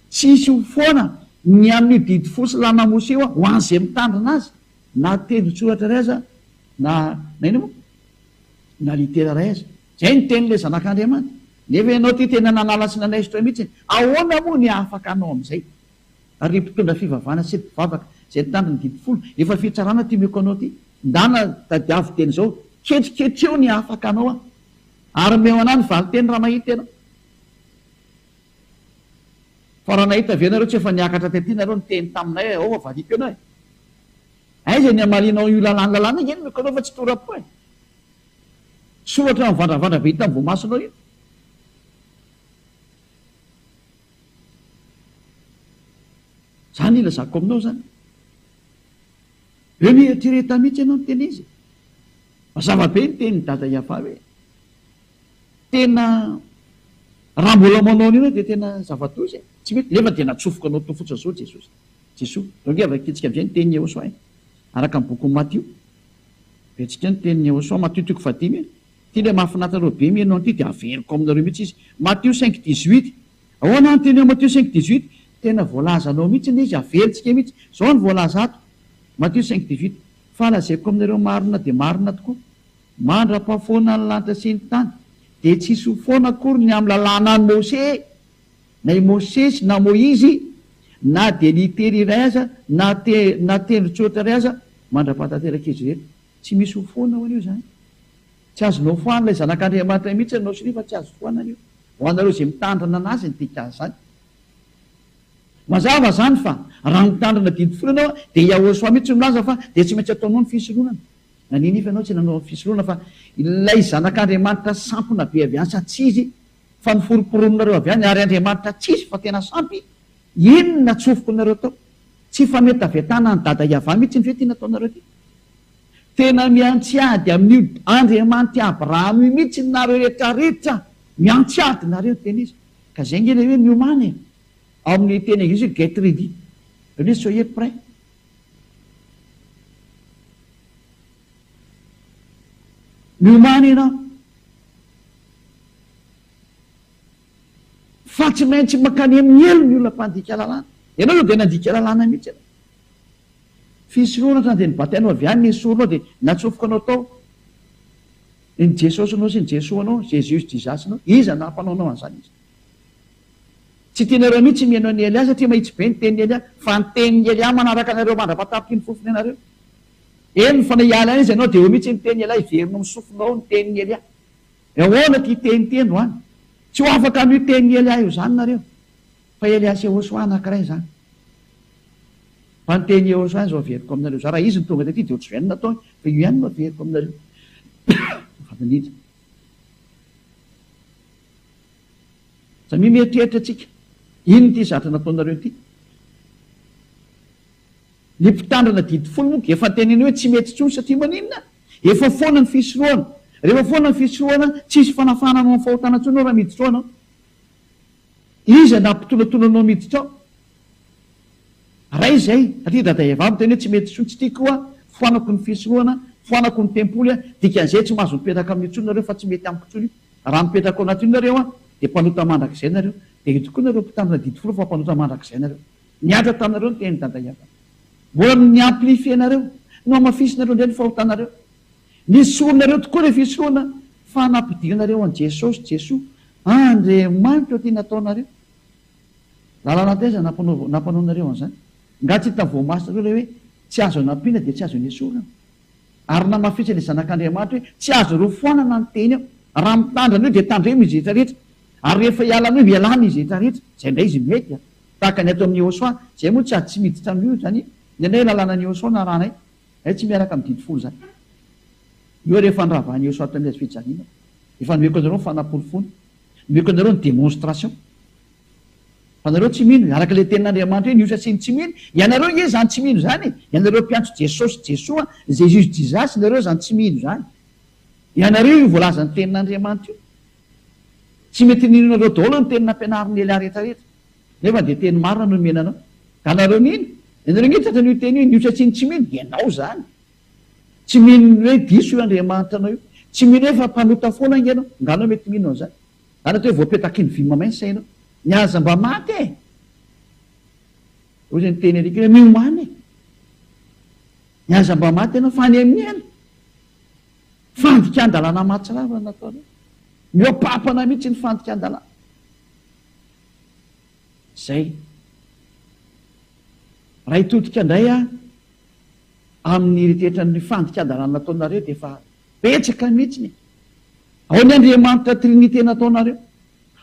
tsy hisy ho foana ny amin'io didy fo sy lama mosy io ho an'izay mitandrina azy, na tendron-tsoratra iray aza, na inona moa. Na litera iray aza. Izay ny tenin'ilay Zanak'Andriamanitra. Nefa ianao ity tena nanala sy nanaisotra mihitsy e! Ahoana moa ny afaka hanao amin'izay? Ary ry mpitondra fivavahana sy ry mpivavaka izay nitandro ny didy folo, efa fitsarana ity omeko anao ity. Ndana tadiavo teny izao, ketriketreo ny afaka hanao an! Ary omeo anah ny valinteny raha mahita ianao. Fa raha nahita ve ianareo tsy efa niakatra taty nareo niteny taminay aoa variako ianao e! Aiza ny hamalianao io lalàny lalàna? Eny omeko anao fa tsy tora-po e! Tsy ohatra mivandravandra be hitan'ny voamasonao io. Zany ilazako aminao zany. Eo mieritrereta mihitsy ianao miteny izy. Mazava be ny tenin'i Dada Iavà hoe tena raha mbola manao an'io ianao dia tena zava-doza e. Tsy mety nefa dia natsofoka anao teo fotsiny zao Jesosy. Jesoa. Donc efa voakitsika amin'izay ny tenin'i Iehosoa e. Araka ny bokin'i Matio. Betsika ny tenin'i Yehosua, Matio toko fahadimy, Ity ilay mahafinaritra anareo be mihaino an'ity dia haveriko aminareo mihitsy izy. Matio cinq dix huit, Ahoana ny teny ao Matio cinq dix huit? Tena voalazany ao mihitsy ilay izy, haverintsika mihitsy. Izao no voalaza ato, Matio cinq dix huit, Fa lazaiko aminareo marina dia marina tokoa, mandra-pahafoana ny lanitra sy ny tany dia tsy hisy ho foana akory ny amin'ny lalànan'i Mosè, Na i Mosesy na Moizy, na dia litera iray aza, na na tendron-tsoratra iray aza, mandra-paha tanteraka izy ireto. Tsy misy ho foana ho an'io izany. Tsy azonao foan'ilay Zanak'Andriamanitra iray mihitsy anao sy ny fa tsy azo foana an'io, ho anareo izay mitandrina an'Azy ny dika an'izany. Mazava izany fa raha mitandrina didy folo ianao dia Yahoshua mihitsy no milaza fa dia tsy maintsy ataonao ny fisoronana. Naninona ianao tsy nanao ny fisoronana fa ilay Zanak'Andriamanitra sampona be avy any sa tsia izy Fa noforomporononareo avy any ary Andriamanitra tsisy fa tena sampy, inona tsofoky nareo tao? Tsy fametavetana an'i Dada Yavah mihitsy ny ve ity nataonareo ity? Tena miantsy ady amin'io Andriamanitr'i Abraham io mihitsy nareo rehetra rehetra, miantsy ady nareo ny teny izy, ka zay nge ilay hoe miomana e, ao amin'ny teny anglisy hoe get ready, zany hoe soyez prêt. Miomana ianao. Fa tsy maintsy mankany amin'ny helo ny olona mpandika lalàna. Ianao izao dia nandika lalàna mihitsy ianao. Fisorohana hatrany dia ny batainao avy any no esorinao dia natsofokanao tao. Dia ny Jesosinao sy ny Jesoanao, Jesus Jesus nao, iza nampanaonao an'izany iza? Tsy tianareo mihitsy ny mihaino an'i Elia satria mahitsy be ny tenin'i Elia, fa ny tenin'i Elia manaraka anareo mandra-patapitr'i ny fofony ianareo. Eny fa na hiala any izy ianao dia eo mihitsy ny tenin'i Elia hiverina ao amin'ny sofinao ny tenin'i Elia. Ahoana ity teny ity androany? Tsy ho afaka amin'io tenin'i Elià io izany nareo, fa Elià sy Iehôsoà anankiray izany. Fa ny tenin'i Iehôsoà izao averiko aminareo izao, raha izy no tonga taty dia ohatr'izao ihany no nataony, fa io ihany no averiko aminareo. Azafady indrindra. Samia mieritreritra tsika, inona ity zatra nataonareo ity? Ny mpitandrina didy folo moa efa teneno hoe tsy mety intsony satria maninona? Efa foana ny fisorohana. Rehefa foana ny fisorohana, tsy hisy fanafahana anao amin'ny fahotana intsony ao raha miditra ao ianao. Iza no hampitonatona anao miditra ao? Ray izay, satria Dada Eva miteny hoe tsy mety intsony, tsy tiako aho, foanako ny fisorohana, foanako ny tempoly aho, dikan'izay tsy mahazo mipetraka amin'io intsony nareo fa tsy mety amiko intsony io. Raha mipetraka ao anatin'io nareo dia mpanota mandrakizay nareo. Dia io tokoa nareo mpitandrina didy folo fa mpanota mandrakizay nareo. Nihaja taminareo ny tenin'i Dada Iavana. Mbola ny ni-amplifier anareo, nohamafisinareo indray ny fahotanareo. Nesorinareo tokoa ilay fisehoana fa nampidirinareo an'i Jesosy, Jesoa, Andriamanitra ity nataonareo. Lalana taiza nampanao nampanaonareo an'izany? Nga tsy hitan'ny voamasonareo ilay hoe tsy azo anampiana dia tsy azo nesorina? Ary namafisin'ilay Zanak'Andriamanitra hoe tsy azonareo foanana ny teny aho. Raha mitandrina an'io dia tandremo izy rehetra rehetra. Ary rehefa hiala an'io dia lany izy rehetra rehetra. Izay indray izy mety an. Tahaka ny ato amin'i Yehosua, izay moa tsy ady tsy miditra amin'io izany, ny anay lalànan'i Yehosua no arahanay, izay tsy miaraka amin'ny didy folo izany. Io ary efa niravahan'i Yehosua taminay azy fijaliana, efa nomeko anareo ny fanaporofoana, nomeko anareo ny démonstration. Fa nareo tsy mino, araka ilay tenin'Andriamanitra eny, io sachet ny tsy mino, ianareo nge izany tsy mino izany e, ianareo mpiantso Jesosy, Jesoa, Jesus, Jesus, nareo izany tsy mino izany. Ianareo io voalazan'ny tenin'Andriamanitra io. Tsy mety nirinareo daholo ny teny nampianarin'i Elia rehetrarehetra. Nefa dia teny marina no nomena anao. Ka nareo mino? Ianareo nge tratra an'io teny io, ny osa tsy ny tsy mino, ianao zany. Tsy mino ny hoe diso io Andriamanitra anao io. Tsy mino hoe fa mpanota foana ange ianao. Nga anao mety mino an'izany. Zany atao hoe voapetakin'ny vy mamay ny sainao. Ny ahy aza mba maty e! Ozy niteny an'ika hoe miomana e! Ny ahy aza mba maty ianao, fa any amin'i Ela. Fandikan-dalàna mahatsiravina no nataonao. Mihoa-pampana mihitsy ny fandikan-dalàna. Izay. Raha hitodika indray aho amin'ny eritreritra ny fandikan-dalàna nataonareo dia efa betsaka mihitsiny e! Ao ny Andriamanitra Trinite nataonareo.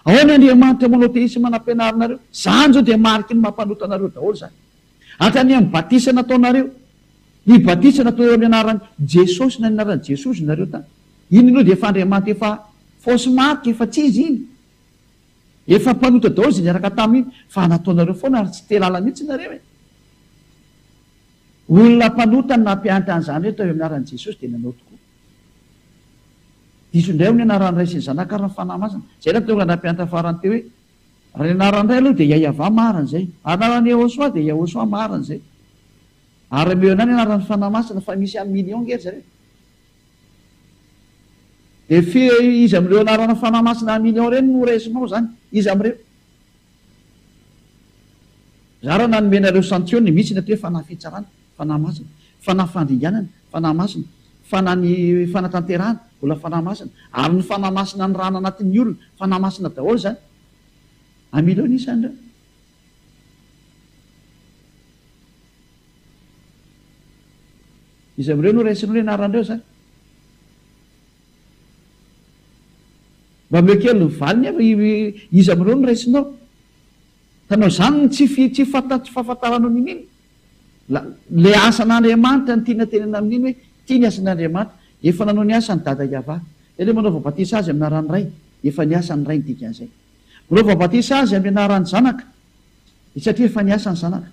Ao ny Andriamanitra Monotheisme nampianarinareo. Izany izao dia mariky ny maha mpanota anareo daholo izany. Hatrany amin'ny batisa nataonareo. Ny batisa natao eo amin'ny anaran'i Jesosy na ny anaran'i Jesoa hozy nareo tany. Iny aloha dia efa Andriamanitra efa fausse marque efa tsy izy iny. Efa mpanota daholo izay niaraka taminy fa nataonareo foana ary tsy tealala mihitsy nareo e. Olona mpanota no nampianatra an'izany hoe atao eo amin'ny anaran'i Jesosy dia nanao tokoa. Diso indray hono ny anaran'ny Ray sy ny Zanaka ary ny Fanahy Masina. Izay nahatonga ny nampianatra farany teo hoe. Ary anarany indray aloha dia Yayavah marina izay. Ary anarany Yehosua dia Yehosua marina izay. Ary ameo indray ny anaran'ny Fanahy Masina fa misy amin'ny million ange ry zareo. Dia fe iza amin'ireo anarana Fanahy Masina amin'ny million ireny no horaisinao izany? Iza amin'ireo? Za raha nanome anareo santionne, misy ny atao hoe Fanahy Fitsarana. Fanahy Masina, Fanahy Fandringanana, Fanahy Masina, Fanahy ny Fanatanterahana, mbola Fanahy Masina, ary ny Fanahy Masina ny rana anatin'ny olona, Fanahy Masina daholo izany. Amin' ireo ny isan'ireo. Iza amin'ireo no raisinao ny anaran'ireo izany? Mba omeo kely ny valiny aho fa iza amin'ireo no raisinao? Ka noho izany tsy, tsy, tsy fahafantaranao ny mino. Ilay asan'Andriamanitra no tiana tenenina amin'iny hoe ity ny asan'Andriamanitra, efa nanao ny asany Dada Yavah. Dia ilay manaova batisa azy amin'ny anaran'ny Ray, efa ny asan'ny Ray ny dikan'izay. Manaova batisa azy amin'ny anaran'ny Zanaka, dia satria efa ny asan'ny Zanaka.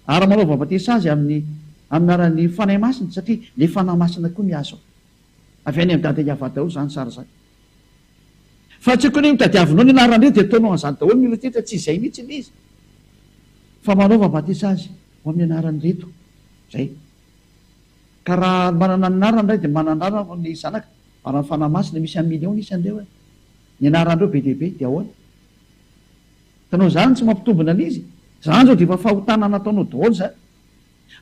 Ary manaova batisa azy amin'ny amin'ny anaran'ny Fanahy Masina, satria ilay Fanahy Masina koa mihazo ao. Avy any amin'i Dada Yavah daholo izany sary izany. Fa tsy kony nitadiavinao ny anaran-dry dia ataonao an'izany daholo ny olona teto, tsy izay mihitsy ilay izy fa manaova batisa azy ho amin'ny anaran'ireto izay. Ka raha manana ny anarany ny ray dia manana ny anarany ny zanaka ary ny fanahy masina, misy amin'ny millions ny isan'ireo e! Ny anaran'ireo be dia be dia ahoana? Hitanao izany tsy mampitombina an'izy? Izany izao dia efa fahotana nataonao daholo izany.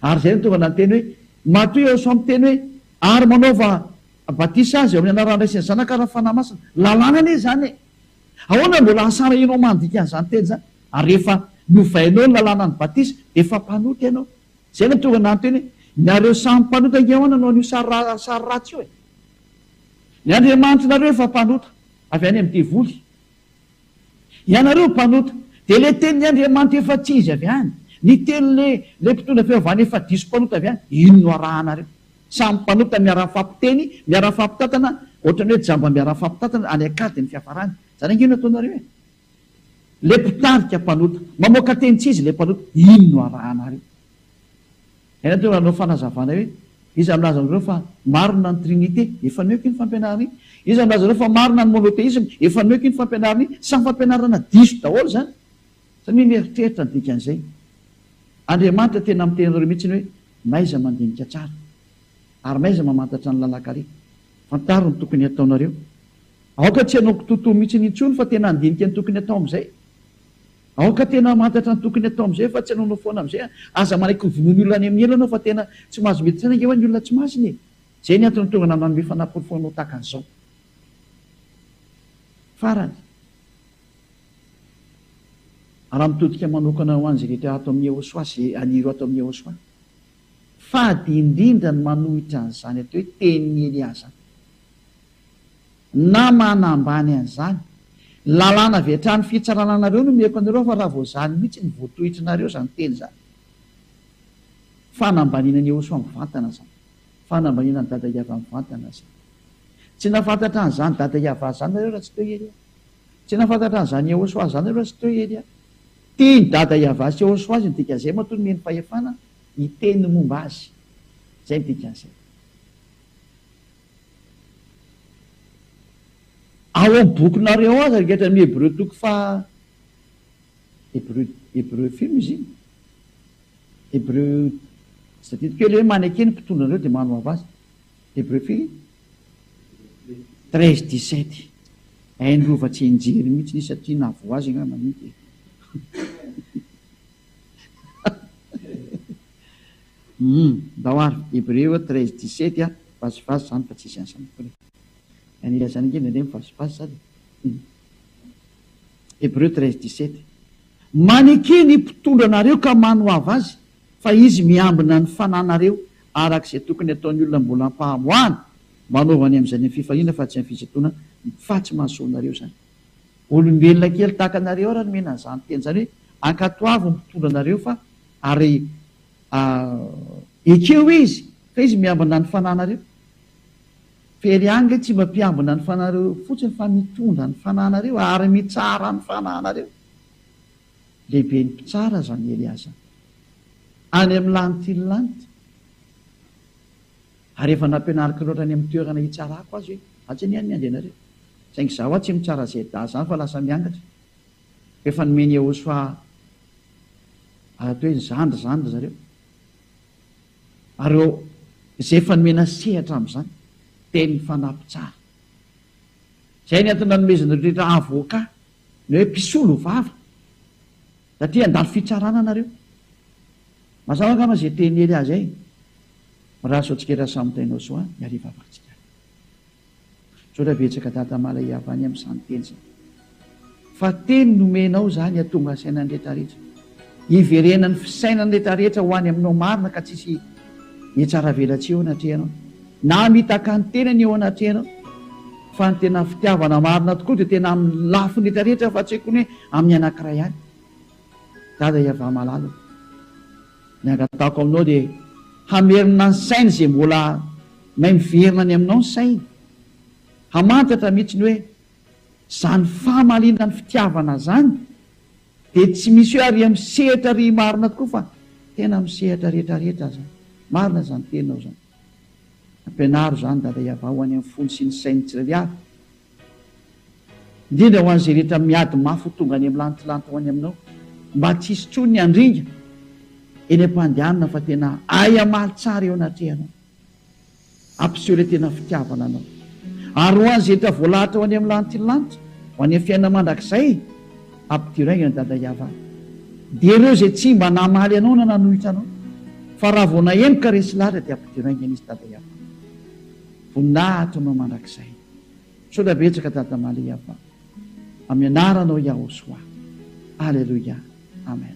Ary izay no tonga nanteny hoe, Matoa eo sao miteny hoe, Ary manaova batisa aza eo amin'ny anaran'ny Ray sy ny Zanaka ary ny Fanahy Masina. Lalàna anie izany e! Ahoana no mbola asarahinao mandika an'izany teny izany? Ary rehefa novainao ny lalàna ny batisa dia efa mpanota ianao. Izay no tonga nanteny hoe, Nareo samy mpanota ange ahoana no an'io sary sary ratsy io e! Ny Andriamanitr'nareo efa mpanota avy any amin'ny devoly. Ianareo mpanota, dia le tenin'ny Andriamanitra efa tsy izy avy any, ny teny le le mpitondra fivavahana efa diso mpanota avy any, iny no arahanareo. Samy mpanota miara-mifampiteny, miara-mifampitantana, ohatran'ny hoe jamba miara-mifampitantana, any an-kady ny fiafarany. Zany ange no ataonareo e! Le mpitarika mpanota, mamoaka teny tsy izy le mpanota, iny no arahanareo. Ianao dia nanao fanazavana hoe, Iza milaza aminareo fa marina ny Trinite? Efa nihoiko iny fampianarana iny. Iza milaza aminareo fa marina ny monotheisme? Efa nihoiko iny fampianarana iny. Samy fampianarana diso daholo izany, samia mieritreritra ny dikan'izay. Andriamanitra tena miteny anareo mihitsy hoe, na iza mandinika tsara, ary na iza mamantatra ny lalan-kaleha. Fantaro ny tokony hataonareo. Aoka tsy hanao kitoatoa mihitsy intsony fa tena handinika ny tokony hatao amin'izay. Aoka tena hamantatra ny tokony atao amizay fa tsy anaonao foana amizay an! Aza manaiky ho vonoin'ny olona any amin'ny ela anao fa tena tsy mahazo mety saina ange hoe ny olona tsy masina e! Zay ny antony tonga nanome fanaporofoana ho tahaka an'izao. Farany, raha mitodika manokana ho an'izay rehetra ato amin'ny Ehosoa sy an'ireo ato amin'ny Ehosoa, fady indrindra ny manohitra an'izany atao hoe tenin'i Elià zany. Na mana ambany an'izany. Lalàna avy hatrany fitsarana anareo no omeko anareo fa raha vao izany mihitsy no voatohitry nareo izany teny izany. Fanambaniana an'i Ehosoa mivantana izany. Fanambaniana an'i Dada Iavah mivantana izany. Tsy nahafantatra an'izany Dada Iavah izany nareo raha tsy teo i Elia. Tsy nahafantatra an'izany Ehosoa izany nareo raha tsy teo i Elia. Tian'i Dada Iavah sy Ehosoa azy ny dikan'izay matoa nomeny fahefana hiteny ny momba azy. Izay ny dikan'izay. Ao amin'ny bokinareo aza ankehitriny amin'ny Hebreo toko faha Hebreo Hebreo film izy iny? Hebreo tsy tadidiko hoe le maneke ny mpitondra anareo dia manohava azy. Hebreo firy? Treize dix sept. Hain'i Rova tsy hianjery mihitsy izy satria nahavoa azy angamba mihitsy e. Hum ndao ary Hebreo treize dix sept a vazivazy zany fa tsisy asa mikory e! Any ilazana ange nde ndreny vazivazy zany e! Hum Hebreo treize dix sept Maneke ny mpitondra anareo ka manohava azy fa izy miambina ny fananareo araka izay tokony ataony olona mbola ampahamoahana manaova ny amzany am fifahiana fa tsy am fisintonana fa tsy mahasoa anareo zany. Olombelona kely tahaka anareo ary nomena an'izany teny izany hoe ankatoavy ny mpitondra anareo fa ary ekeo izy fa izy miambina ny fanahinareo very any le tsy mba mpiambina ny fanahinareo fotsiny fa mitondra ny fanahinareo ary mitsara ny fanahinareo lehiben'ny mpitsara zany Elia zany any amin'ny lantilanty Ary efa nampianariko loatra any amin'ny toerana hitsarako azy hoe atsy anie ny andianareo. Saingy izaho hoa tsy mitsara Zeddah izany fa lasa miangatra. Koa efa nomen'i Yehosfa toy ny zandry izany ry zareo. Ary izay efa nomena sehatra amin'izany dia ny fanahy mpitsara. Izay ny antony nanomezan'ireo rehetra avoka ny hoe mpisolo vava. Raha te handalo fitsarana nareo. Mazava angamba izay teny hery azy ay. Mirary sao tsikera samy tainao soa ny hariva avantsikay. Misaotra betsaka dada mala iavany am zany teny zany. Fa teny nomenao zany atonga saina ny retraretra. Iverenany fisainany retraretra ho any aminao marina ka tsisy. Mihatsaravelatsihy eo anatrehanao na mitaka ny tenany eo anatrehanao fa ny tena fitiavana marina tokoa dia tena amin'ny lafiny rehetra rehetra fa tsy kony amin'ny anankiray ihany dada iavah malala o ny angatahako aminao dia hamerina ny sainy izay mbola may miverina any aminao ny sainy hamantatra mihitsy ny hoe izany famaliana ny fitiavana izany Dia tsy misy hoe ary amin'ny sehatra ry marina tokoa fa tena amin'ny sehatra rehetra rehetra aza. Marina izany teninao izany. Ampianaro izany Dada hiavaho any amin'ny fony sy ny sain'ny tsirairay avy. Indrindra ho an'izay rehetra miady mafy ho tonga any amin'ny lantilanty ho any aminao. Mba tsy hisy tsony ny handringa eny am-pandehanana fa tena ahy hamaly tsara eo anatrehanao. Ampiseho ilay tena fitiavana anao. Ary ho an'ny zetra voalahatra ho any amin'ny lanitry ny lanitra, ho any amin'ny fiainana mandrakizay, ampidiray an'i Dada Yavah. Dia ireo izay tsy mba namaly anao na nanohitra anao, fa raha vao nahemoka resy lahatra dia ampidiray ny an'izy Dada Yavah. Voninahitra ho anao mandrakizay. Misaotra betsaka Dada Malia Yavah. Amin'ny anaranao Yahoshua. Aleloia. Amen.